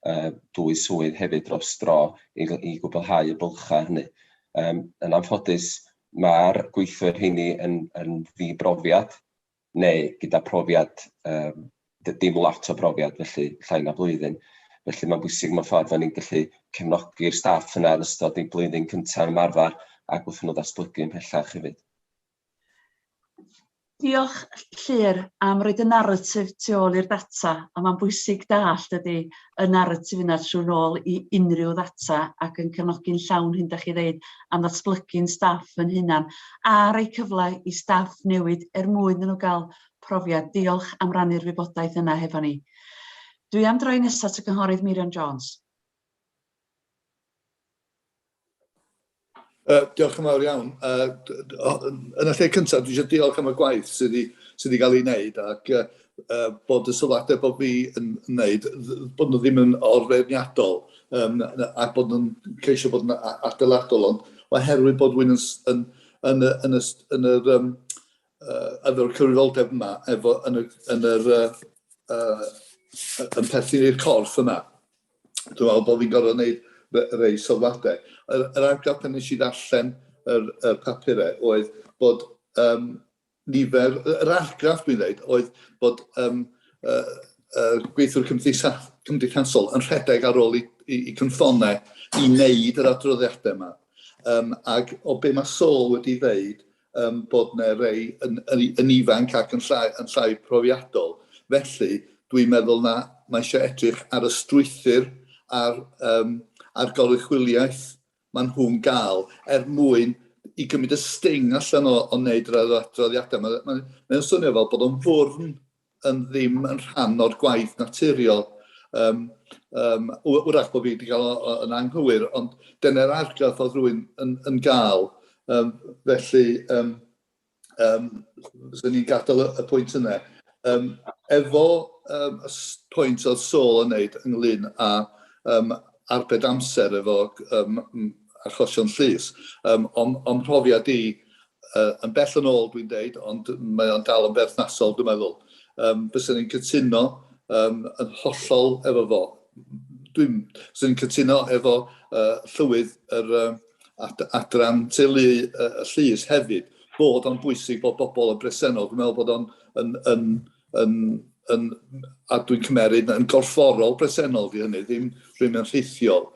uh, dwy swydd hefyd dros dro i, i gwblhau y bylchau hynny. Um, yn anffodus, mae'r gweithwyr hynny yn, yn ddibrofiad neu gyda profiad, um, dim lot o brofiad felly llai na blwyddyn. Felly mae'n bwysig mewn ffordd ni'n gallu cefnogi'r staff yna yn ystod ei blwyddyn cyntaf ymarfer ac wrth nhw ddatblygu yn pellach hefyd. Diolch Llŷr am roi dy naratif tu ôl i'r data a mae'n bwysig dallt ydy y naratif yna trwy nôl i unrhyw ddata ac yn cefnogi'n llawn hyn da chi ddeud am ddatblygu'n staff yn hunan a rhoi cyfle i staff newid er mwyn nhw gael profiad. Diolch am rannu'r wybodaeth yna hefo ni. Dwi am droi nesaf at y Cynghorydd Meirion Jones. Uh, diolch yn fawr iawn. Uh, yn y lle cyntaf, dwi eisiau diolch am y gwaith sydd wedi, sydd wedi cael ei wneud ac uh, uh, bod y sylwadau bod fi yn wneud, bod nhw ddim yn orfeirniadol um, ac bod nhw'n ceisio bod yn adeiladol, ond oherwydd bod wy'n yn, yn, yn, yn, yn yr um, uh, efo'r cyfrifoldeb yma, efo, yn, y, yn yr uh, uh, yn perthyn i'r corff yma. dwi'n meddwl bod fi'n gorfod gwneud rhai sylwadau. Yr, yr argraff pan nes i ddarllen yr, y papurau oedd bod um, nifer, yr argraff dwi'n dweud oedd bod um, uh, uh, gweithwyr cymdeitha, cymdeithasol yn rhedeg ar ôl i, i, i cynffonnau i wneud yr adroddiadau yma. Um, ac o be mae Sol wedi dweud, um, bod yna rei yn, yn, yn ifanc ac yn llai, yn llai profiadol. Felly, dwi'n meddwl na mae eisiau edrych ar y strwythyr a'r, um, a'r goruchwyliaeth maen nhw'n gael er mwyn i gymryd y sting allan o, o wneud yr adroddiadau. Mae'n mae, mae swnio fel bod o'n fwrn yn ddim yn rhan o'r gwaith naturiol. Um, um, wrach bod fi wedi cael o, yn anghywir, ond dyna'r argraff oedd rwy'n yn, yn gael. Um, felly, um, um, sy'n ni'n gadael y, y pwynt yna. Um, efo um, y pwynt oedd Sol yn neud ynglyn â um, arbed amser efo um, achosion llys, um, o'n, on profiad i, uh, yn bell yn ôl dwi'n deud, ond mae o'n dal yn berthnasol dwi'n meddwl. Um, Bysen ni'n cytuno um, yn hollol efo fo. Dwi'n ni'n cytuno efo uh, llywydd yr um, ad, adran teulu uh, y llys hefyd, bod o'n bwysig bod bobl yn bresennol. Dwi'n meddwl bod o'n yn, yn, yn yn, yn, a dwi'n cymeryd yn gorfforol bresennol di hynny, ddim rhywun yn rhithiol.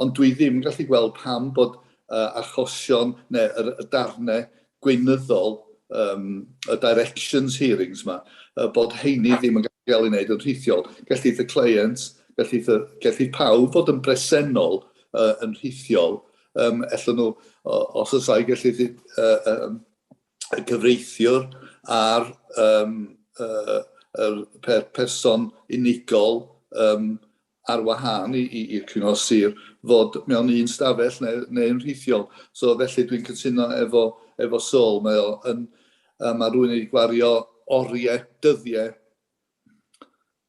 Ond dwi ddim yn gallu gweld pam bod uh, achosion neu y, y darnau gweinyddol um, y directions hearings yma, uh, bod heini ddim yn gallu cael ei wneud yn rhithiol. Gellith y client, gellith, y, gellith pawb fod yn bresennol uh, yn rhithiol, um, ella nhw, os oes ai gellith uh, um, y cyfreithiwr a'r um, uh, er, per, person unigol um, ar wahân i'r cyngor sir fod mewn un stafell neu'n neu, neu rhithiol. So felly dwi'n cytuno efo, efo Sol, mae o yn, uh, mae rhywun wedi gwario oriau dyddiau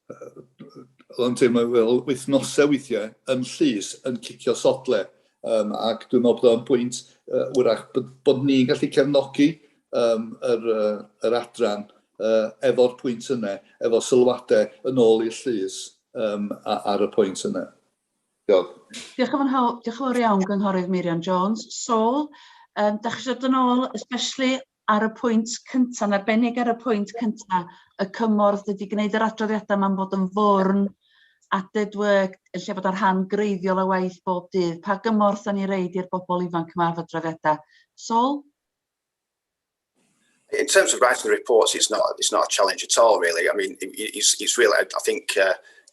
oedd o'n teimlo fel wythnosau weithiau yn llys, yn cicio sodle. Um, ac dwi'n meddwl bod o'n bwynt uh, wrach bod, bod ni'n gallu cefnogi um, yr, uh, yr adran uh, efo'r pwynt yna, efo sylwadau yn ôl i'r llys um, ar y pwynt yna. Diolch. Diolch yn fawr, diolch yn fawr iawn, Gynghorydd Meirion Jones. Sol, um, da chi eisiau dod yn ôl, especially Ar y pwynt cynta', yn arbennig ar y pwynt cynta', y cymorth ydi gneud yr adroddiadau 'ma'n bod yn fwrn, added work, yn lle bod y rhan greiddiol o waith bob dydd. Pa gymorth 'dan ni'n roid i'r bobl ifanc 'ma efo adroddiadau? Saul? In terms of writing the reports, it's not, it's not a challenge at all really. I mean, it's, it's really, I think, uh,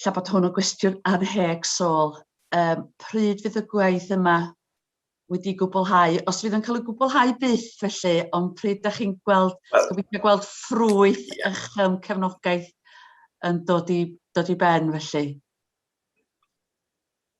ella bod hwn yn gwestiwn anheg Saul, um, pryd fydd y gwaith yma wedi gwblhau? Os fydd yn cael ei gwblhau byth felly, ond pryd ydych chi'n gweld, well, gobeithio gweld ffrwyth yeah. eich um, cefnogaeth yn dod i, dod i ben felly?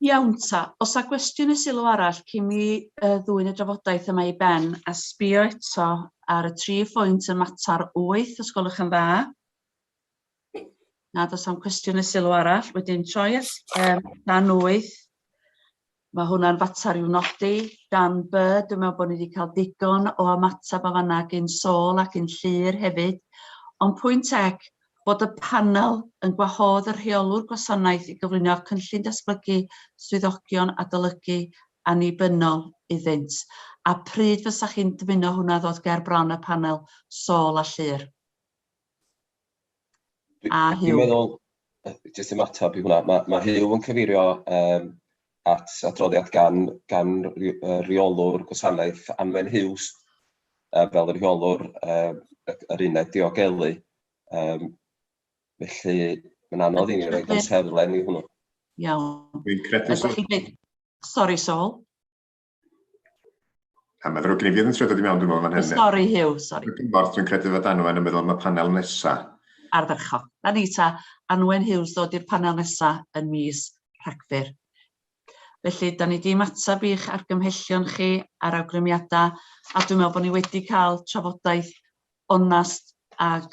Iawn ta, oes 'na gwestiwn neu sylw arall cyn i mi yy ddwyn y drafodaeth yma i ben a sbio eto ar y tri phwynt yn mater wyth, os gwelwch yn dda? Na, does 'na'm cwestiwn neu sylw arall. Wedyn troi at yym dan wyth. Mae hwnna'n fater i'w nodi. Dan by, dwi'n meddwl bod ni wedi cael digon o ymateb o fanna gyn Saul ac yn Llyr hefyd. Ond pwynt ec, Bod y Panel yn gwahodd y Rheolwr Gwasanaeth i gyflwyno Cynllun Datblygu Swyddogion Adolygu Annibynnol iddynt, a pryd fysa chi'n dymuno hwnna ddod ger bron y Panel Sâl a Llŷr? A Huw? Dwi'n meddwl, jyst i ymateb i hwnna, mae Huw yn cyfeirio at adroddiad gan gan ry- yy reolwr gwasanaeth Anwen Huws yy fel y rheolwr yy y yr uned diogelu yym felly ma'n anodd i ni roid amserlen i hwnnw. Iawn. Dwi'n credu... Sori Saul. A mae ddrwg gen i, fi oedd yn trio dod i mewn, dwi'n meddwl, fan hyn. Sori, Hugh, sori. Dwi'n gwybod, dwi'n credu fod Anwen yn meddwl am y panel nesa. Ardderchog. Na ni ta, Anwen Hughes ddod i'r panel nesa yn mis Rhagfyr. Felly, da ni di ymateb i'ch argymhellion chi a'r awgrymiadau, a dwi'n meddwl bod ni wedi cael trafodaeth onast ac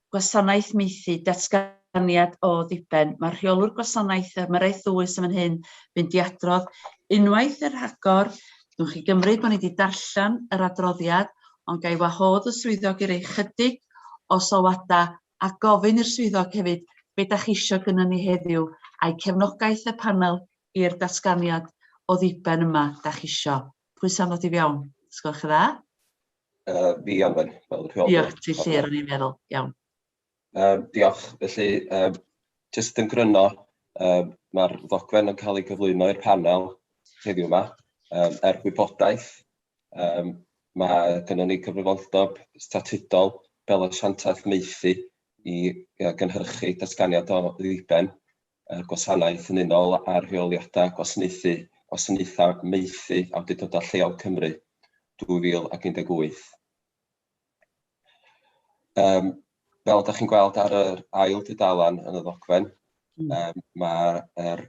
Gwasanaeth Maethu, Datganiad o ddiben, Mae Rheolwr Gwasanaeth y Maraeth Ddwys yn fan hyn, mynd i adrodd unwaith yn rhagor. Dwi'n chi gymryd bod ni wedi darllen yr adroddiad, ond ga i wahodd y swyddog i roi chydig o sylwadau a gofyn i'r swyddog hefyd be da chi eisiau gynnu ni heddiw a'i cefnogaeth y panel i'r datganiad o ddiben yma da chi eisiau. Pwy sy'n ddod i fiawn? Sgwelwch yn dda? Uh, fi anfen, fel y rheolwr. Diolch, ti lle rwy'n i'n meddwl, iawn. Uh, diolch, felly, uh, jyst yn gryno, uh, mae'r ddogfen yn cael ei gyflwyno i'r panel heddiw yma, um, er gwybodaeth. Um, mae gennym ni cyfrifoldeb statudol fel asiantaeth meithi i uh, gynhyrchu datganiad o ddiben y gwasanaeth yn unol â Rheoliadau Gwasanaethu, Gwasanaethau Maethu, Awdurdodau Lleol Cymru, 2018. Um, fel ydych chi'n gweld ar yr ail dudalan yn y ddogfen, um, mae'r er,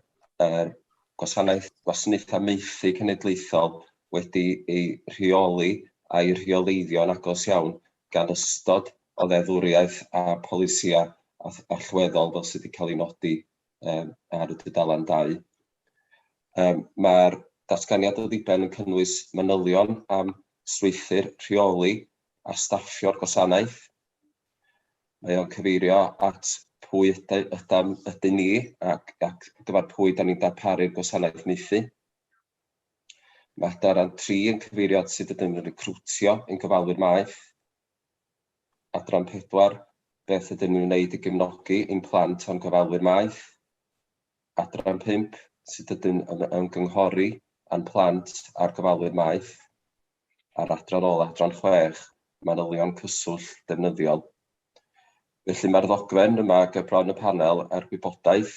er gwasanaeth gwasanaethau maethu cenedlaethol wedi ei rheoli a'i rheoleiddio yn agos iawn gan ystod o ddeddfwriaeth a pholisïau allweddol fel sydd wedi cael ei nodi ar y dudalen dau. Mae'r datganiad o ddiben yn cynnwys manylion am strwythur rheoli a staffio'r gwasanaeth. Mae o'n cyfeirio at pwy ydym ni ac gyfer pwy da ni'n darparu'r gwasanaeth maethu. Mae adran tri yn cyfeirio at sut ydym yn recriwtio ein gofalwyr maeth. Adran pedwar, beth ydym yn ei wneud i gefnogi ein plant a'n gofalwyr maeth. Adran pump, sut ydym yn ymgynghori â'n plant a'r gofalwyr maeth. A'r adran ôl, adran chwech, manylion cyswllt defnyddiol. Felly mae'r ddogfen yma ger bron y panel a'r gwybodaeth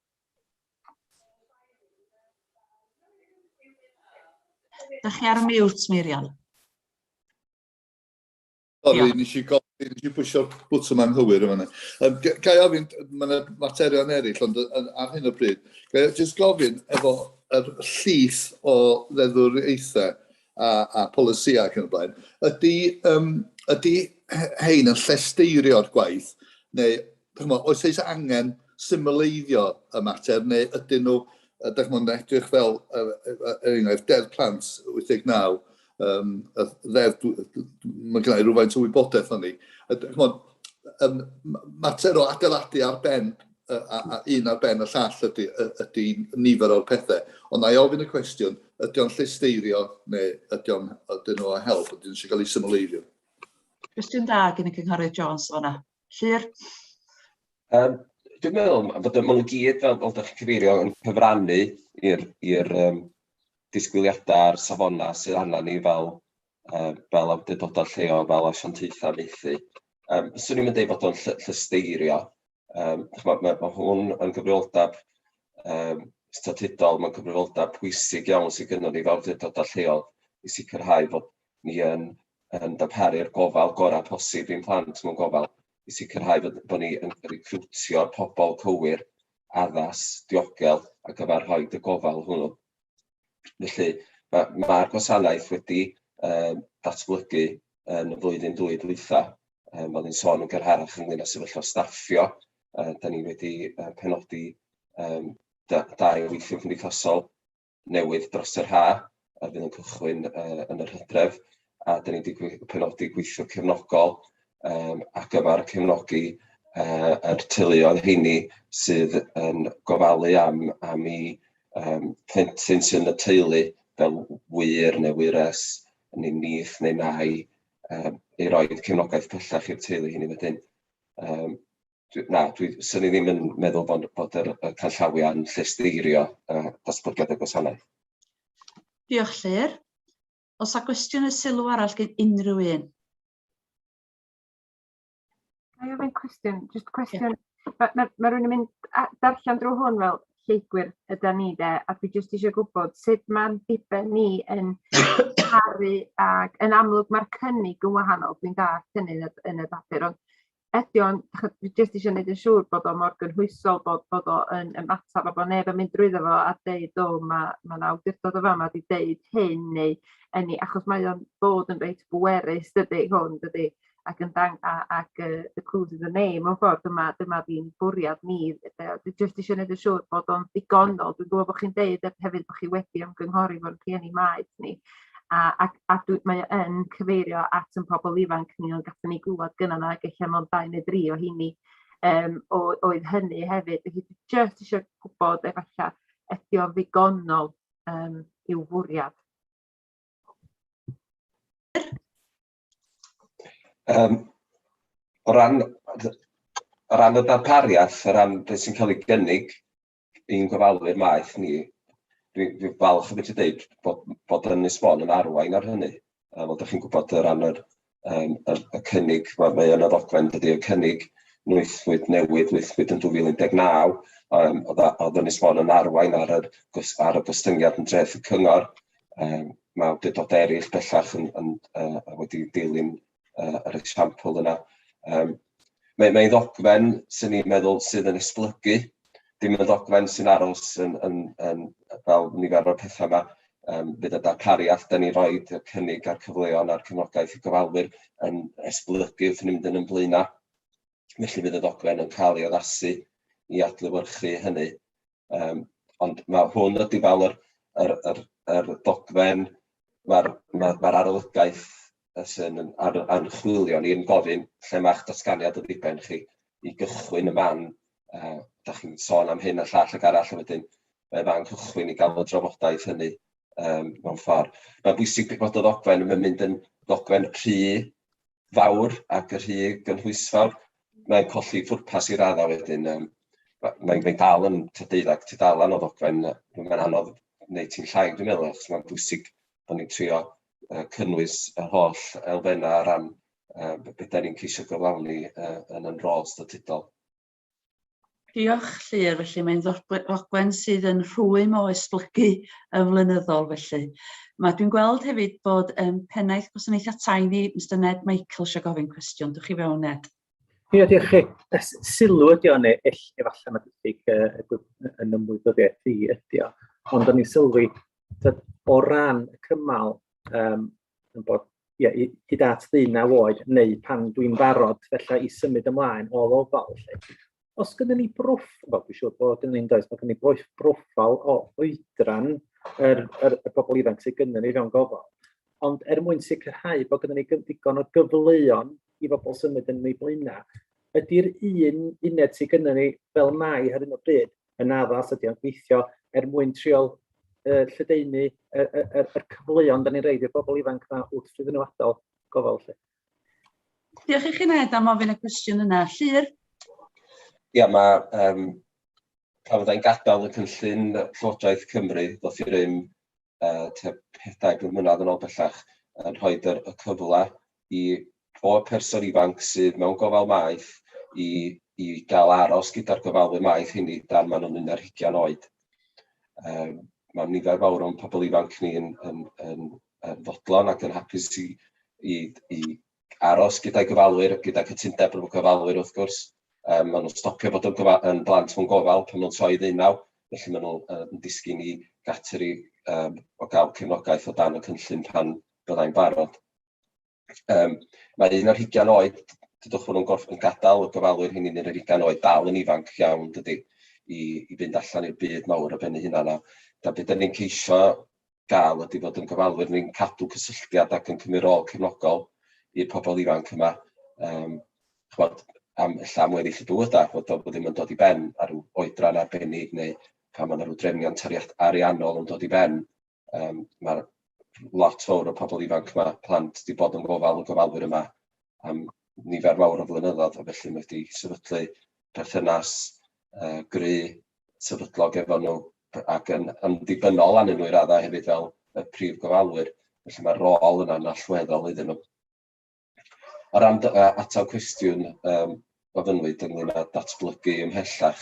Dych chi ar y mute, Meirion? Sorry, nes i gofyn, nes i bwysio'r bwtwm anghywir yma. Um, ga i ofyn, mae yna materion eraill, ond ar hyn o bryd, ga i just gofyn efo yr llys o ddeddwriaethau a, a polisiau ac yn y blaen, ydy, um, ydy hein yn llesteirio'r gwaith, neu Dychmod, oes eis angen symleiddio y mater, neu ydyn nhw, dychmod, yn edrych fel, er, er enghraifft, Deddf Plant 89, um, y ddeddf, mae gennau rhywfaint o wybodaeth o'n ni. Dychmod, um, mater o adeiladu ar ben a, a un ar ben y llall ydy, ydy nifer o'r pethau. Ond na i ofyn y cwestiwn, ydy o'n llesteirio neu ydy o'n ydyn nhw o help, ydy nhw'n eisiau cael ei symleiddio? Cwestiwn da gen y Cynghorydd Jones o'na. Llŷr? Um, dwi'n meddwl bod y mwyn gyd, fel, fel ydych chi'n cyfeirio, yn cyfrannu i'r um, disgwyliadau a'r safonau sydd anna ni fel, uh, fel awdurdodau lleol, fel asiantaethau meithi. Um, swn i'n mynd ei fod o'n ll llysteirio. Um, mae, mae, mae hwn yn gyfrioldeb um, statudol, mae'n gyfrioldeb pwysig iawn sydd gennym ni fel awdurdodau lleol i sicrhau bod ni yn yn darparu'r gofal gorau posib i'n plant mewn gofal, i sicrhau bod bod ni yn recriwtio'r pobl cywir, addas, diogel ar gyfer rhoi y gofal hwnnw. Felly, mae'r ma, ma gwasanaeth wedi um, datblygu yn y flwyddyn dwy dwytha, um, fel ni'n sôn yn gyrharach ynglyn â sefyllfa staffio, uh, da ni wedi uh, penodi um, da, dau weithio cymdeithasol newydd dros yr haf, a fydd yn cychwyn uh, yn yr hydref, a dyn ni wedi penodi gweithio cefnogol um, ar gyfer cefnogi uh, yr teuluoedd heini sydd yn gofalu am, am i um, plentyn sy'n y teulu fel wir neu wires neu nith neu nai um, ei roed cefnogaeth pellach i'r teulu hynny wedyn. Um, dwi, na, dwi, sy'n ni ddim yn meddwl bod, bod yr, y canllawiau yn llesteirio uh, datblygiad y gwasanaeth. Diolch, Llyr. Os a gwestiwn y sylw arall gen unrhyw un? Mae ofyn cwestiwn, jyst cwestiwn. Yeah. Mae ma, ma rhywun yn mynd darllen drwy hwn fel lleigwyr yda ni de, a dwi jyst eisiau gwybod sut mae'n diben ni yn caru ac yn amlwg mae'r cynnig yn wahanol, dwi'n da cynnig yn y papur, ond ydi o'n ch- dwi jyst isio neud yn siŵr bod o mor gynhwysol bod bod o yn ymatab a bo' neb yn mynd drwyddo fo a deud o ma' ma' 'na awdurdod y fama 'di deud hyn neu ynny achos mae o'n bod yn reit bwerus dydi hwn dydi? Ac yn dang- a ac yy the proof is in the name mewn ffor dyma dyma fi'n bwriad ni yy dwi jyst isio neud yn siŵr bod o'n ddigonol dwi'n gwbo bo' chi'n deud yy hefyd bo' chi wedi ymgynghori efo'r rhieni maeth ni a a a dwi mae o yn cyfeirio at 'yn pobol ifanc ni ond gathon ni glwad gynna' 'na ag ella mond dau ne' dri o 'heiny yym o oedd hynny hefyd felly dwi jyst isio gwbod efalla ydi o'n ddigonol yym i'w fwriad? Yym o ran o ran y darpariaeth o ran beth sy'n ca'l ei gynnig i'n gofalwyr maeth ni, dwi'n dwi falch o fedru dweud bod, bod Ynys Mon yn arwain ar hynny. Um, ond ydych chi'n gwybod o ran yr, um, y, y cynnig, mae, mae yn y ddogfen dydy, y cynnig nwythwyd newydd, nwythwyd yn 2019, um, oedd Ynys Mon yn arwain ar, yr, ar y gostyngiad yn dreth y cyngor. Um, mae awdurdodau eraill bellach yn, yn, uh, wedi dilyn uh, yr esiampl yna. Um, mae, mae ddogfen sy'n ni'n meddwl sydd yn esblygu, dim yn ddogfen sy'n aros yn, yn, yn, fel nifer o'r pethau yma, um, bydd y darpariaeth da ni roi y cynnig a'r cyfleon a'r cefnogaeth i gofalwyr yn esblygu wrth ni'n mynd yn ymblaenau. Felly bydd y ddogfen yn cael ei addasu i adlywyrchu hynny. Yym ond ma' hwn ydi fel yr yr yr yr dogfen ma'r ma' ma'r arolygaeth yy sy'n yn ar- archwilio ni yn gofyn lle ma'ch datganiad o ddiben chi i gychwyn y man, yy dach chi'n sôn am hyn a llall ag arall a wedyn mae fan cychwyn i ga'l y drafodaeth hynny yym mewn ffor. Ma'n bwysig bod y ddogfen yn mynd yn ddogfen rhy fawr ac yn rhy gynhwysfawr, mae'n colli pwrpas i raddau wedyn. Yym, mae mae dal yn tua deuddag tudalen o ddogfen, yy, mae'n anodd wneud ti'n llai dwi'n meddwl, achos mae'n bwysig bod ni'n trio yy cynnwys yr holl elfennau o ran yy be be 'dan ni'n ceisio gyflawni yy yn yn rôl statudol. Diolch, Llŷr. Felly mae'n ddogfen sydd yn rhwym o esblygu yn flynyddol felly. Mae dwi'n gweld hefyd bod um, pennaeth gwasanaethau tai ni, Mr Ned Michael, eisiau gofyn cwestiwn. Dwch i fewn, Ned. Ie, diolch chi. Sylw ydi o'n eill, efallai mae diffyg yn ymwybyddiaeth i ydi o. Ond o'n i'n sylwi, o ran y cymal um, yn bod, ie, i, hyd at ddeunaw oed, neu pan dwi'n barod, felly i symud ymlaen o ofal. Felly. Os gyda ni broff, wel, dwi'n siŵr bod yn ein does, mae gen ni broff, broffal o oedran yr, yr, y bobl ifanc sydd gyda ni fewn gofal. Ond er mwyn sicrhau bod gyda ni ddigon o gyfleon i bobl symud yn ei blaenau, ydy'r un uned sydd gyda ni fel mai ar hyn o bryd yn addas, ydy o'n gweithio er mwyn triol uh, lledaenu y, y, y, y cyfleon da ni'n reid i'r bobl ifanc na wrth fydd nhw adael gofal lle. Diolch i chi Ned am ofyn y cwestiwn yna. Llyr? Ia, mae um, pan fyddai'n gadael y cynllun Llywodraeth Cymru, ddoth i rym tua pedair mlynedd yn ôl bellach, yn rhoi y cyfle i bob person ifanc sydd mewn gofal maeth i i gael aros gyda'r gofalwyr maeth hynny dan maen nhw'n un ar hugain oed. Um, mae nifer fawr o'n pobl ifanc ni yn, yn, yn, yn fodlon ac yn hapus i, i, i aros gyda'i gofalwyr, gyda cytundeb efo'r gofalwyr wrth gwrs. Yym ma' nhw'n stopio bod yn gofa- yn blant mewn gofal pan nhw'n troi ddeunaw, felly ma' nhw yy yn disgyn i gateri yym o gael cefnogaeth o dan y cynllun pan fyddai'n barod. Yym mae un ar hugain oed, dudwch bod nhw'n gorff- yn gadael y gofalwyr hynny yn yr ugain oed, dal yn ifanc iawn yn dydi, i i fynd allan i'r byd mawr ar ben eu hunan a da be' 'dan ni'n ceisio gael ydy fod yn gofalwyr ni'n cadw cysylltiad ac yn cymryd rôl cefnogol i'r pobl ifanc yma, um, chwod, am illa am weddill y bywyd a bod o ddim yn dod i ben ar ryw oedran arbennig neu pan mae yna rhyw drefnion tariad ariannol yn dod i ben. Um, Mae'r lot fawr o pobl ifanc yma, plant, wedi bod yn gofal y gofalwyr yma am nifer fawr o flynyddoedd, a felly mae wedi sefydlu perthynas uh, gry sefydlog efo nhw ac yn yn ddibynnol arnyn nhw i raddau hefyd fel y prif gofalwyr, felly mae'r rôl yna'n allweddol iddyn nhw. O ran dy- yy atal cwestiwn yym gofynnwyd ynglŷn â datblygu ymhellach,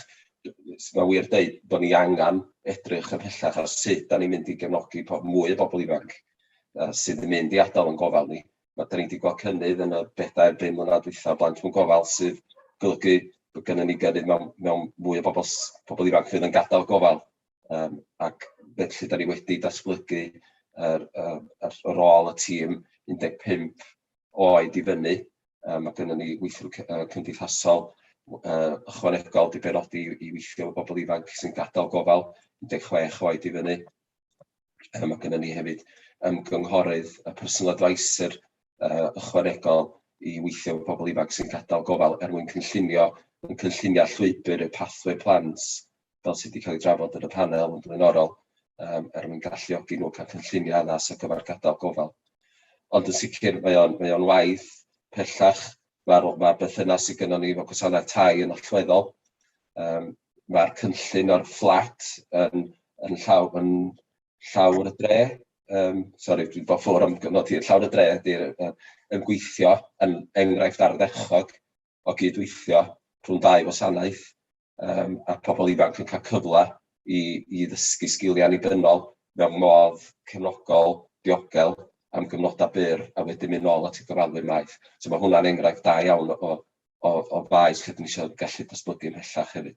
s- mae'n wir deud bod ni angen edrych ymhellach ar sut 'dan ni'n mynd i gefnogi po- mwy o bobl ifanc yy sydd yn mynd i adael ein gofal ni, ma' 'dan ni 'di gweld cynnydd yn y bedair, bum mlynadd dwytha o blant mewn gofal, sydd golygu bod gynnon ni gynnydd mewn mewn mwy o bobol s- pobol ifanc fydd yn gadal y gofal, yym ac felly 'dan ni wedi datblygu yr yy yr y rôl y tîm 15 oed i fyny, yy ma' gynnon ni weithiwr cy- yy cymdeithasol w- yy ychwanegol 'di benodi i weithio efo bobol ifanc sy'n gadal gofal, 16 oed i fyny. Mae gennym ni hefyd ymgynghorydd a Personal Adviser ychwanegol i weithio efo pobl ifanc sy'n gadael gofal er mwyn cynllunio yn cynllunio llwybr y pathway plant fel sydd wedi cael ei drafod yn y panel yn flaenorol um, er mwyn galluogi nhw cael cynllunio addas ar gyfer gadael gofal. Ond yn sicr mae o'n mae o'n waith pellach Mae'r mae'r berthynas sydd gynnon ni efo gwasanaeth tai yn allweddol. Yym mae'r cynllun o'r fflat yn yn llaw yn llawr y dre. Yym sori dwi'n bod ffwr am gyfnod hir. Llawr y dre ydy'r yy yn gweithio yn enghraifft ardderchog o gydweithio rhwng dau wasanaeth. yym a pobl ifanc yn cael cyfle i i ddysgu sgiliau annibynnol mewn modd cefnogol, diogel, am gyfnodau byr, a wedyn mynd nôl at y gofalwyr maeth. So mae hwnna'n enghraifft da iawn o o o faes lle 'dan ni isio gallu datblygu ymhellach hefyd.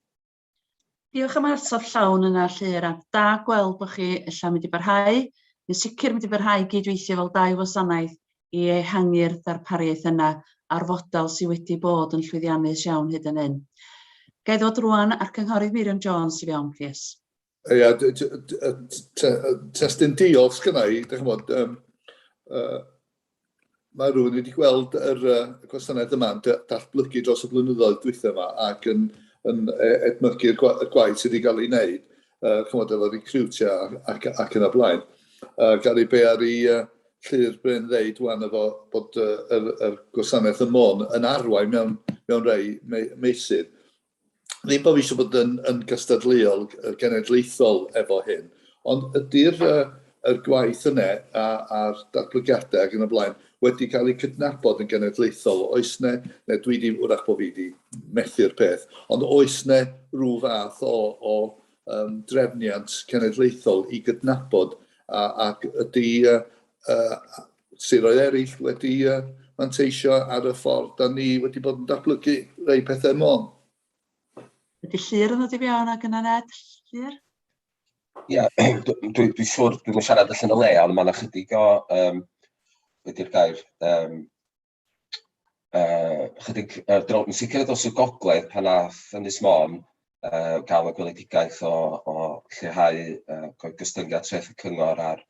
Diolch am y ateb llawn yna Llŷr, a da gweld bod chi ella'n mynd i barhau, yn sicr mynd i barhau i gyd-weithio fel dau wasanaeth i ehangu'r ddarpariaeth yna a'r fodel sydd wedi bod yn llwyddiannus iawn hyd yn hyn. Ga i ddod rŵan a'r Cynghorydd Miriam Jones i fewn, plîs? Ia, testyn diolch sgynna i, dych chimod, um, uh, mae rhywun wedi gweld yr uh, gwasanaeth yma'n datblygu dros y blynyddoedd dwytha yma ac yn, yn e, edmygu'r gwa, gwaith sydd wedi cael ei wneud. uh, chymod, efo recriwtio ac, ac yn y blaen. Uh, Gary Bear i uh, Llyr Bryn ddeud wan efo bod uh, yr, yr gwasanaeth y mon yn arwain mewn, mewn rei me, meisydd. Ddim bod fi eisiau bod yn, yn gystadleuol genedlaethol efo hyn, ond ydy'r uh, yr gwaith yna a a'r datblygiadau ac yn y blaen wedi cael eu cydnabod yn genedlaethol, oes yna, neu dwi di, wrach bod fi wedi methu'r peth, ond oes yna rhyw fath o, o um, drefniant cenedlaethol i gydnabod a, ac ydy uh, uh, siroedd eraill wedi uh, manteisio ar y ffordd da ni wedi bod yn datblygu rei pethau môn. Ydy llir yn ddod i fewn ag yna Ned? Llir? Ia, dwi dwi dwi siŵr dwi'm yn siarad allan o le, ond ma' 'na chydig o yym be' 'di'r gair, yym yy chydig yy dro- yn sicr dros y gogledd pan ath Ynys Môn yy ga'l y gweledigaeth o o lleihau yy go- gostyngiad treth y cyngor ar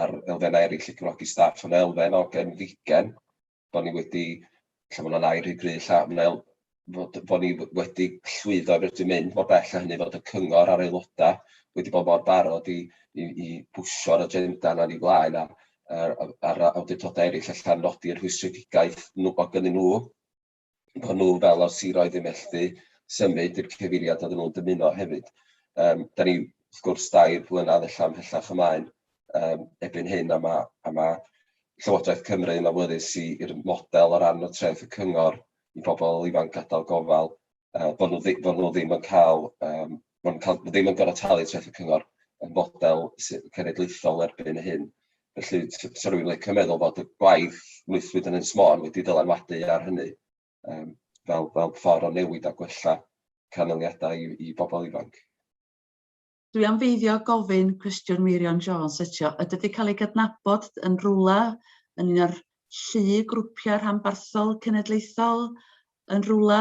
ar elfennau eryll i gefnogi staff yn elfen o gefndigen. bod ni wedi, ella bod 'na ddau rhy gryf ella, ond fel fod bod ni wedi llwyddo i fedru mynd mor bell â hynny, fod y cyngor a'r aelodau wedi bod mor barod i i i bwsio'r agenda yna'n ei flaen a a'r a'r awdurdodau eraill ella'n nodi'r rhwystredigaeth nhw o gynnyn nhw. bod nhw fel o'r siroedd yn methu symud i'r cyfeiriad oedden nhw'n dymuno hefyd. Um, da ni, wrth gwrs, dair blynedd allan hellach ymlaen um, ebyn hyn, a mae, a mae Llywodraeth Cymru yn awyddus i'r model o ran o treth y cyngor i bobl ifanc gadael gofal, uh, bod, nhw ddim, bod nhw ddim yn cael um, mae'n cael... ma' ddim yn gorfod talu treth y cyngor, y model sydd yn cenedlaethol erbyn hyn. Felly, s- sa rhywun yn licio meddwl bod y gwaith gweithwyd yn Ynys Môn wedi dylanwadu ar hynny, yym, fel fel ffordd o newid a gwella canlyniadau i i bobl ifanc. Dwi am beidio gofyn cwestiwn Meirion Jones eto. Ydy wedi cael ei gydnabod yn rhywle yn un o'r llu grwpiau rhanbarthol cenedlaethol yn rhywle?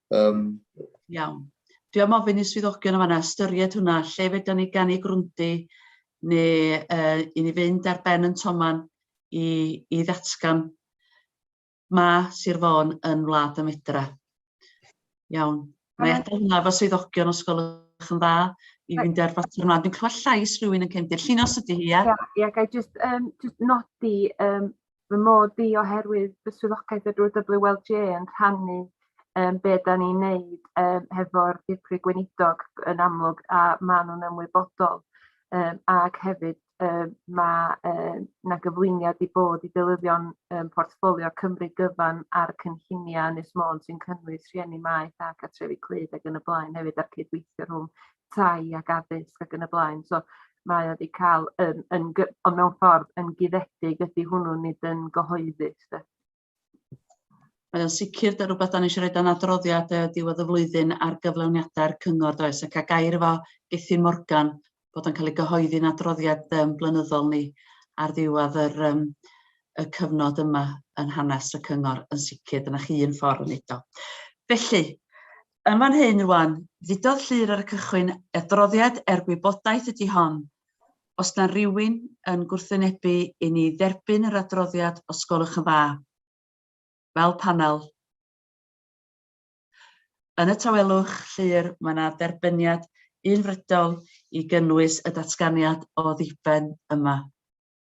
Um... Iawn. Dwi am ofyn i swyddogion yma ystyried hwnna, lle fedra ni ganu grwndi neu uh, i ni fynd ar ben yn toman i, i ddatgan ma Sir Fôn yn wlad y medra. Iawn. Mae eto hwnna fo swyddogion os gwelwch yn dda i fynd ar fater yma. Dwi'n clywed llais rhywun yn cefndir. Llinos ydy hi, ia? Ia, yeah, yeah, gai just, um, just nodi um, fy mod i oherwydd fy swyddogaeth y drwy WLJ yn rhannu um, be da ni'n neud um, hefo'r dirprwy gweinidog yn amlwg a maen nhw'n ymwybodol um, ac hefyd um, mae um, na gyflwyniad i bod i dylyddion um, portffolio Cymru gyfan a'r cynlluniau Ynys Môn sy'n cynnwys rhieni maeth ac atrefi clyd ac yn y blaen hefyd a'r cydweithio rhwng tai ac addysg ac yn y blaen so mae o 'di ca'l yn yn gy- ond mewn ffordd yn guddedig ydy hwnnw nid yn gyhoeddus de. Mae o'n sicr dy rhywbeth da ni eisiau rhoi dan adroddiad uh, diwedd y flwyddyn ar gyflawniadau'r cyngor does ac a gair efo Gethin Morgan bod o'n cael ei gyhoeddi'n adroddiad um, blynyddol ni ar ddiwedd yr, um, y cyfnod yma yn hanes y cyngor yn sicr dyna chi un ffordd yn edo. Felly, Yn fan hyn rwan, ddudodd Llŷr ar y cychwyn, adroddiad er gwybodaeth ydi hon. Os na rywun yn gwrthwynebu i ni dderbyn yr adroddiad os gwelwch yn dda, fel panel. Yn y tawelwch, Llŷr, mae na dderbyniad unfrydol i gynnwys y datganiad o ddiben yma.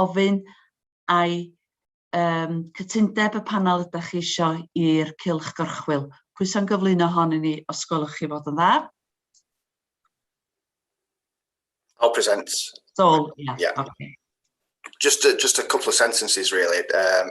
ofyn ai um, cytundeb y panel ydych chi eisiau i'r cylch gorchwyl. Pwy sy'n gyflwyno hon i ni, os gwelwch chi fod yn dda? I'll present. Sol, yeah. yeah. Okay. Just a, just a couple of sentences really. Um,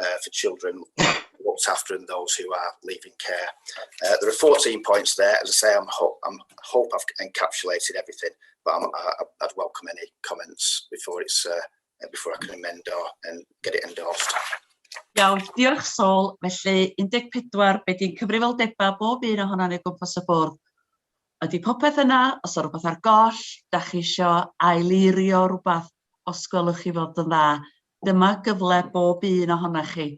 uh, for children looked after and those who are leaving care. Uh, there are 14 points there. As I say, I'm, ho I'm hope I've encapsulated everything, but I'm, I, would welcome any comments before it's uh, before I can amend or and get it endorsed. Iawn, diolch Sol. Felly 14, be di'n cyfrifoldebau bob un ohona'n ei gwmpas y bwrdd? Ydy popeth yna, os o'r rhywbeth ar goll, da chi eisiau aileirio rhywbeth, os gwelwch chi fod yn dda. Dyma gyfle bob un ohonoch chi,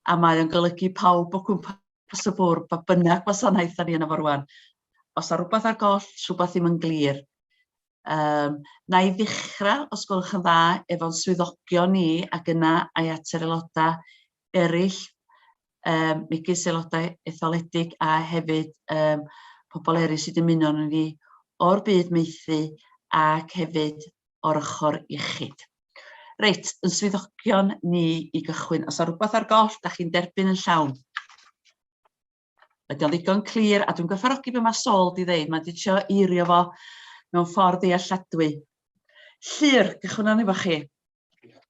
a mae o'n golygu pawb o gwmpas y bwrdd, pa bynnag gwasanaeth 'dan ni yno fo rŵan. Os 'na rwbath ar goll, rhwbath ddim yn glir, yym na i ddechra, os gwelwch yn dda, efo'n swyddogion ni, ac yna ai at yr aeloda' eryll, yym megis aelodau etholedig a hefyd yym pobl eryll sy'n dymuno arnon ni o'r byd maethu ac hefyd o'r ochr iechyd. Reit, yn swyddogion ni i gychwyn, os yna rhywbeth ar goll, da chi'n derbyn yn llawn. Ydy o'n ddigon clir, a dwi'n gwerthfarogi beth mae Sol di ddeud, mae'n dicio eirio fo mewn ffordd ddealladwy. Llyr, gychwyn o'n efo chi.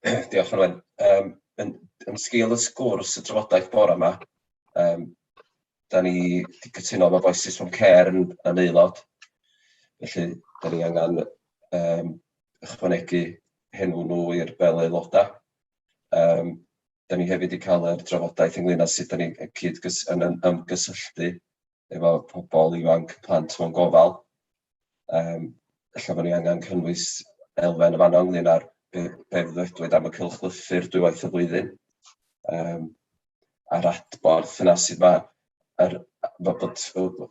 Diolch, Arwen. Um, yn, yn sgil y sgwrs y trafodaeth bore yma, um, da ni wedi cytuno bod Voices from Care yn, yn aelod. Felly, da ni angen um, ychwanegu henw nhw i'r fel aelodau. Um, da ni hefyd wedi cael yr drafodaeth ynglyn â sut da ni cyd yn ymgysylltu efo pobl ifanc plant mewn gofal. Um, Alla bod ni angen cynnwys elfen y fanno ynglyn â'r be, be ddwedwyd am y cylchlythyr dwywaith y flwyddyn. Um, a'r adborth yna sydd ma yr fod bod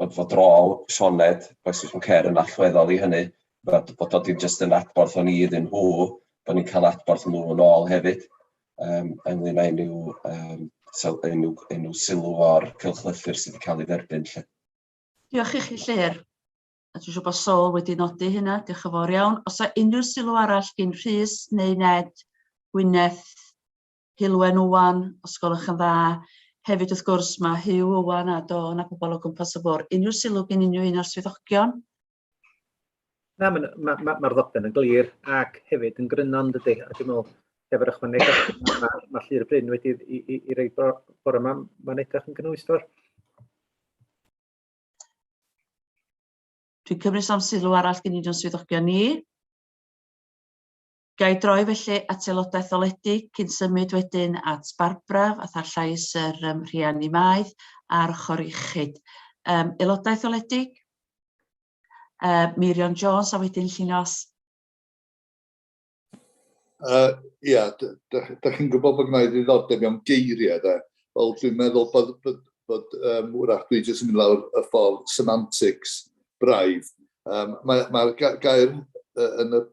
fod fod rôl Sioned Voices from Care yn allweddol i hynny fod bod o dim jyst yn adborth o'n i iddyn nhw bod ni'n cael adborth nhw yn ôl hefyd yym ynglŷn â unryw yym sel- unryw unryw sylw o'r cylchlythyr sydd wedi cael ei dderbyn lly. Diolch i chi Llyr. A dwi'n siŵr bod Sol wedi nodi hynna, diolch yn fawr iawn. Os yw unrhyw sylw arall gin Rhys neu Ned, Gwyneth, Heulwen Owen, os gwelwch yn dda. Hefyd, wrth gwrs, mae Hugh Owen a Dawn a pobl o gwmpas y fôr. Unrhyw sylw gen unrhyw un o'r swyddogion? Na, mae'r ma, ma, ma ddogfen yn glir ac hefyd yn gryno, dydy. A dwi'n meddwl, heb yr ychwaneg, mae ma, ma Llyr Bryn wedi i, i, i roi bore yma, mae'n edrych yn gynhwysfawr. Dwi'n cymryd am sylw arall gen i'n o'n swyddogion ni. Ga i droi felly at aelodau etholedig cyn symud wedyn at Barbara, fatha llais yr um, rhiannu maeth, a'r ochr iechyd. Um, aelodau etholedig? Uh, Meirion Jones a wedyn Llinos. Uh, ia, da chi'n gwybod bod gwneud ddiddordeb mewn geiriau, da. Wel, dwi'n meddwl bod, bod, bod um, wrach dwi jyst yn mynd lawr y ffordd semantics braidd. Um, Mae'r mae, gair uh, yn y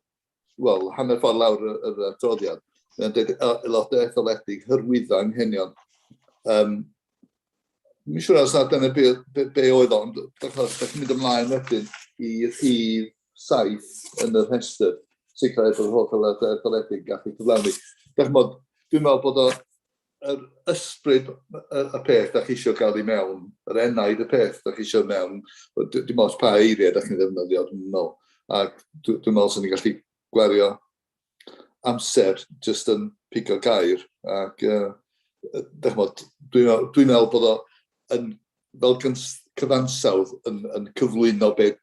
wel, hanner ffordd lawr yr adroddiad, mae'n dweud aelodau etholedig hyrwyddo anghenion. Um, Mi'n siŵr os nad dyna be, be, be oedd ond, achos da chi'n mynd ymlaen wedyn i rhif saith yn yr rhestr, sicrhau bod holl aelodau etholedig gallu cyflawni. Da chi'n bod, dwi'n meddwl bod o yr ysbryd y peth da chi eisiau gael i mewn, yr enaid y peth da chi eisiau mewn, dim oes pa eiriau da chi'n ddefnyddio, dwi'n meddwl. Ac dwi'n meddwl sy'n ni'n gallu gwario amser jyst yn pigo gair. Ac uh, dwi'n meddwl bod o yn, fel cyfansawdd yn, yn cyflwyno beth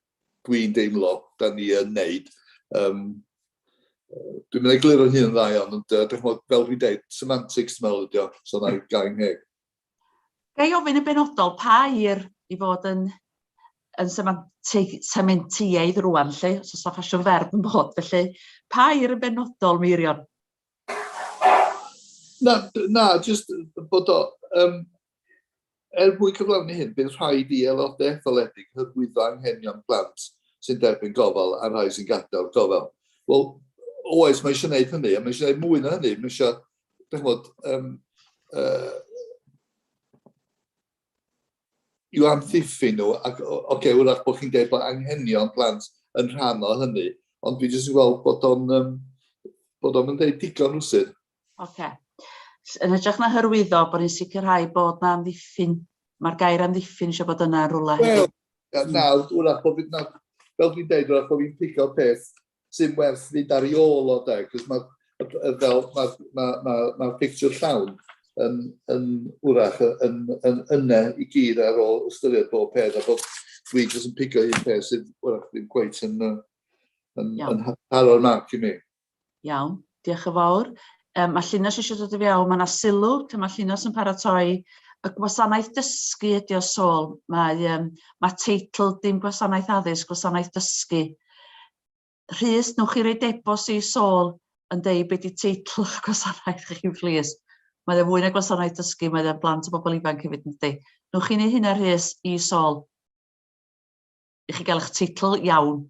dwi'n deimlo 'dan ni yn neud yym yy dwi'm yn egluro'n hun yn dda iawn ond yy dych ch'mod fel dwi'n deud semantics dwi me'wl ydi o so na'i gau'n ngheg. Ga i ofyn yn benodol pa air i fod yn yn semantig sementieaidd rŵan 'lly os o's 'na ffasiwn ferf yn bod felly pa air yn benodol Meirion? Na na jyst bod o yym Er mwyn cyflawni hyn, bydd rhaid i aelodau etholedig hyrwyddo anghenion plant sy'n derbyn gofal a'r rhai sy'n gadael gofal. Wel, oes, mae eisiau gwneud hynny, a mae eisiau gwneud mwy na hynny. Mae eisiau, da chymod, um, uh, i'w amddiffyn nhw, ac o, okay, wrach bod chi'n dweud bod anghenion plant yn rhan o hynny, ond dwi jyst yn gweld bod o'n um, bod o'n dweud digon rhywsyd. Ocê. S- Yn hytrach na hyrwyddo, bod ni'n sicrhau bod 'na amddiffyn. Mae'r gair amddiffyn eisiau bod yna yn rhywle Wel, hefyd. na- nawr, wrach bod fi, nawr, fel dwi'n deud, wrach bod fi'n pigo peth sy'n werth fynd ar ei ôl o de, cos mae, fel, mae'r ma, ma, ma pictiwr llawn yn, yn wrach yn, yn, yn yna i gyd ar ôl ystyried bob peth, a bod dwi jyst yn pigo un peth sydd wrach ddim cweit yn, yy, yn, Iawn. yn ha- taro'r marc i mi. Iawn, diolch yn fawr. Um, mae Llinos eisiau dod i fewn, mae yna sylw, lle mae Llinos yn paratoi y gwasanaeth dysgu ydi o sôl. Mae, um, mae teitl dim gwasanaeth addysg, gwasanaeth dysgu. Rhys, newch chi roi debos i sôl yn deud beth di teitl y gwasanaeth chi, plîs. Mae o fwy na gwasanaeth dysgu, mae o'n blant o bobl ifanc hefyd yn di. Newch chi ni hynna, Rhys, i sôl. I chi gael eich teitl iawn.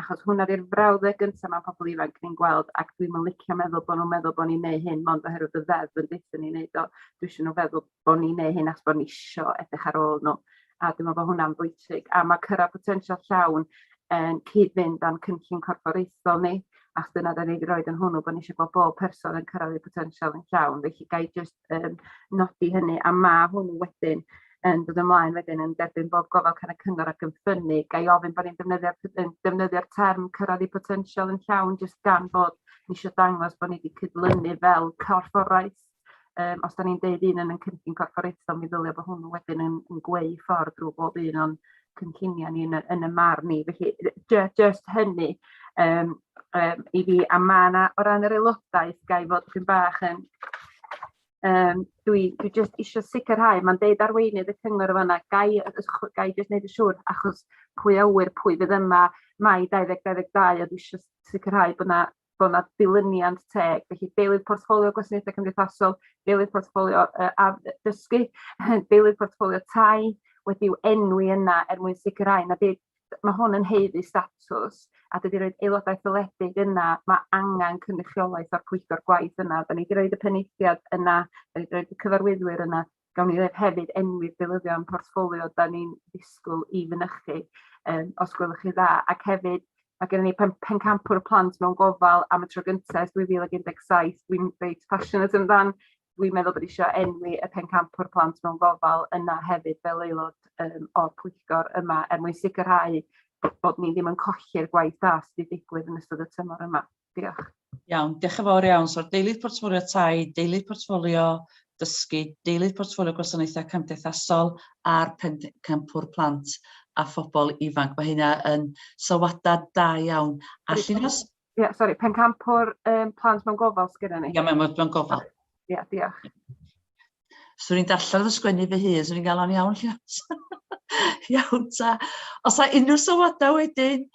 achos hwn oedd i'r frawddeg gyntaf mewn pobl ifanc ni'n gweld ac dwi'n yn licio meddwl bod nhw'n meddwl bod ni'n neud hyn mond oherwydd y ddeddf yn deutha ni neud o. Dwi isio nhw feddwl bod ni'n neud hyn achos bod ni isio edrych ar ôl nhw a dwi'n meddwl bod hwnna'n bwysig a mae cyrraedd potensial llawn yn cyd-fynd â'n cynllun corfforaethol ni achos dyna da ni wedi rhoi yn hwnnw bod ni eisiau bod bob person yn cyrraedd eu potensial yn llawn felly ga i jyst yym nodi hynny a ma' hwnnw wedyn yn dod ymlaen wedyn yn derbyn bob gofal can y cyngor ac yn ffynnu ga'i ofyn bo' ni'n defnyddio'r t- yn defnyddio'r term cyrradd i botensial yn llawn jyst gan bod ni isio dangos bo' ni 'di cydlynu fel corfforaeth yym os 'dan ni'n deud un yn yn cynllun corfforaethol mi ddylia bo hwnnw wedyn yn yn gweu ffordd drw bob un o'n cynlluniau ni yn y, yn y marn ni. Felly, just, just hynny um, um, i fi. A mae yna, o ran yr aelodaeth, gai fod yn bach yn... Um, dwi, dwi just eisiau sicrhau, mae'n deud arweinydd y cyngor yma, fanna, gai, gai just wneud y siŵr, achos pwy awyr, pwy fydd yma, mae 2022, a dwi eisiau sicrhau bod yna bod yna dilyniant teg. Felly deilydd portffolio gwasanaethau cymdeithasol, deilydd portffolio uh, addysgu, deilydd portffolio tai wedi'w enwi yna er mwyn sicrhau na bydd mae hwn yn heiddi statws a dydy roed aelodau ffyledig yna, mae angen cynrychiolaeth o'r pwyllgor gwaith yna. Da ni wedi roed y peneithiad yna, da ni wedi roed y cyfarwyddwyr yna, gawn ni ddeud hefyd enwi deilyddion portffolio 'dan ni'n disgwyl i fynychu yym os gwelwch chi'n dda ac hefyd ma' gynnon ni pen- pencampwr y plant mewn gofal am y tro gynta ers dwy fil ag un deg saith dwi'n reit passionate amdan dwi'n meddwl bod isio enwi y pencampwr plant mewn gofal yna hefyd fel aelod yym o'r pwyllgor yma er mwyn sicirhau bod ni ddim yn colli'r gwaith da sy' 'di digwydd yn ystod y tymor yma. Diolch. Iawn, diolch yn fawr iawn. So'r deilydd portffolio tai, deilydd portffolio dysgu, deilydd portffolio gwasanaethau cymdeithasol a'r campwr plant a phobl ifanc. Mae hynna yn sylwadau da iawn. A llunos... Ie, yeah, sori, pencampwr um, plant mewn gofal sgynna ni. Ie, yeah, mewn gofal. Ie, yeah, diolch. Swn i'n darllen fy sgwennu fy hun, swn i'n gael o'n iawn lle. iawn ta. Os a unrhyw sylwadau wedyn,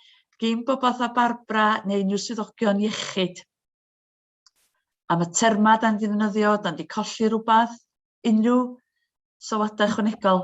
gyn bobeth a Barbara neu unrhyw swyddogion iechyd. Am y terma da ni wedi ddefnyddio, da ni wedi colli rhywbeth, unrhyw sylwadau chwanegol.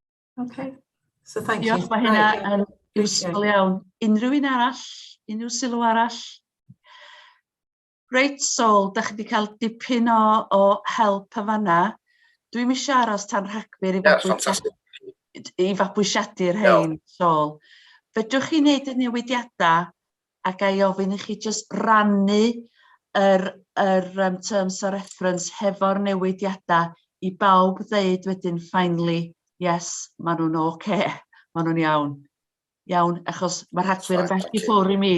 Okay. So thank you. Diolch, mae hynna yn useful iawn. Unrhyw un arall? Unrhyw sylw arall? Reit, Sol, da chi wedi cael dipyn o, o help yn fanna. Dwi'n mis aros tan rhagfyr i fabwysiadu, i fabwysiadu'r hyn, Sol. Fedrwch chi wneud y newidiadau A ga i ofyn i chi jyst rannu yr yr yym terms of reference hefo'r newidiadau i bawb ddeud wedyn finally yes ma' nhw'n ok, ma' nhw'n iawn. Iawn? Achos ma' Rhagfyr yn bell i ffwr' i mi.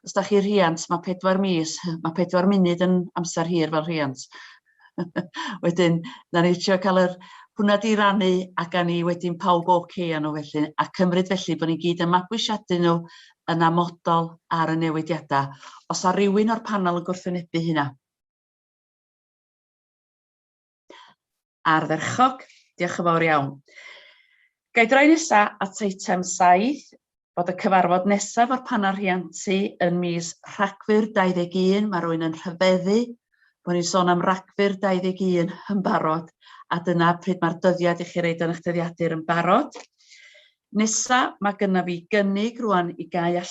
Os 'dach chi rhiant ma' pedwar mis, ma' pedwar munud yn amser hir fel rhiant. Wedyn, na ni trio cael yr hwnna di rannu a gan ni wedyn pawb oce okay â nhw felly, a cymryd felly bod ni'n gyd yn mabwysiadu nhw yn amodol ar y newidiadau. Os a rhywun o'r panel yn gwrthwynebu hynna? Ardderchog, diolch yn fawr iawn. Gai droi nesa at eitem 7, Bod y cyfarfod nesaf o'r Panel Rhiantu yn mis Rhagfyr 21, mae rwy'n yn rhyfeddu bod ni'n sôn am Ragfyr 21 yn barod, a dyna pryd mae'r dyddiad i chi reid yn eich dyddiadur yn barod. Nesa, mae gynna fi gynnig rwan i gau allan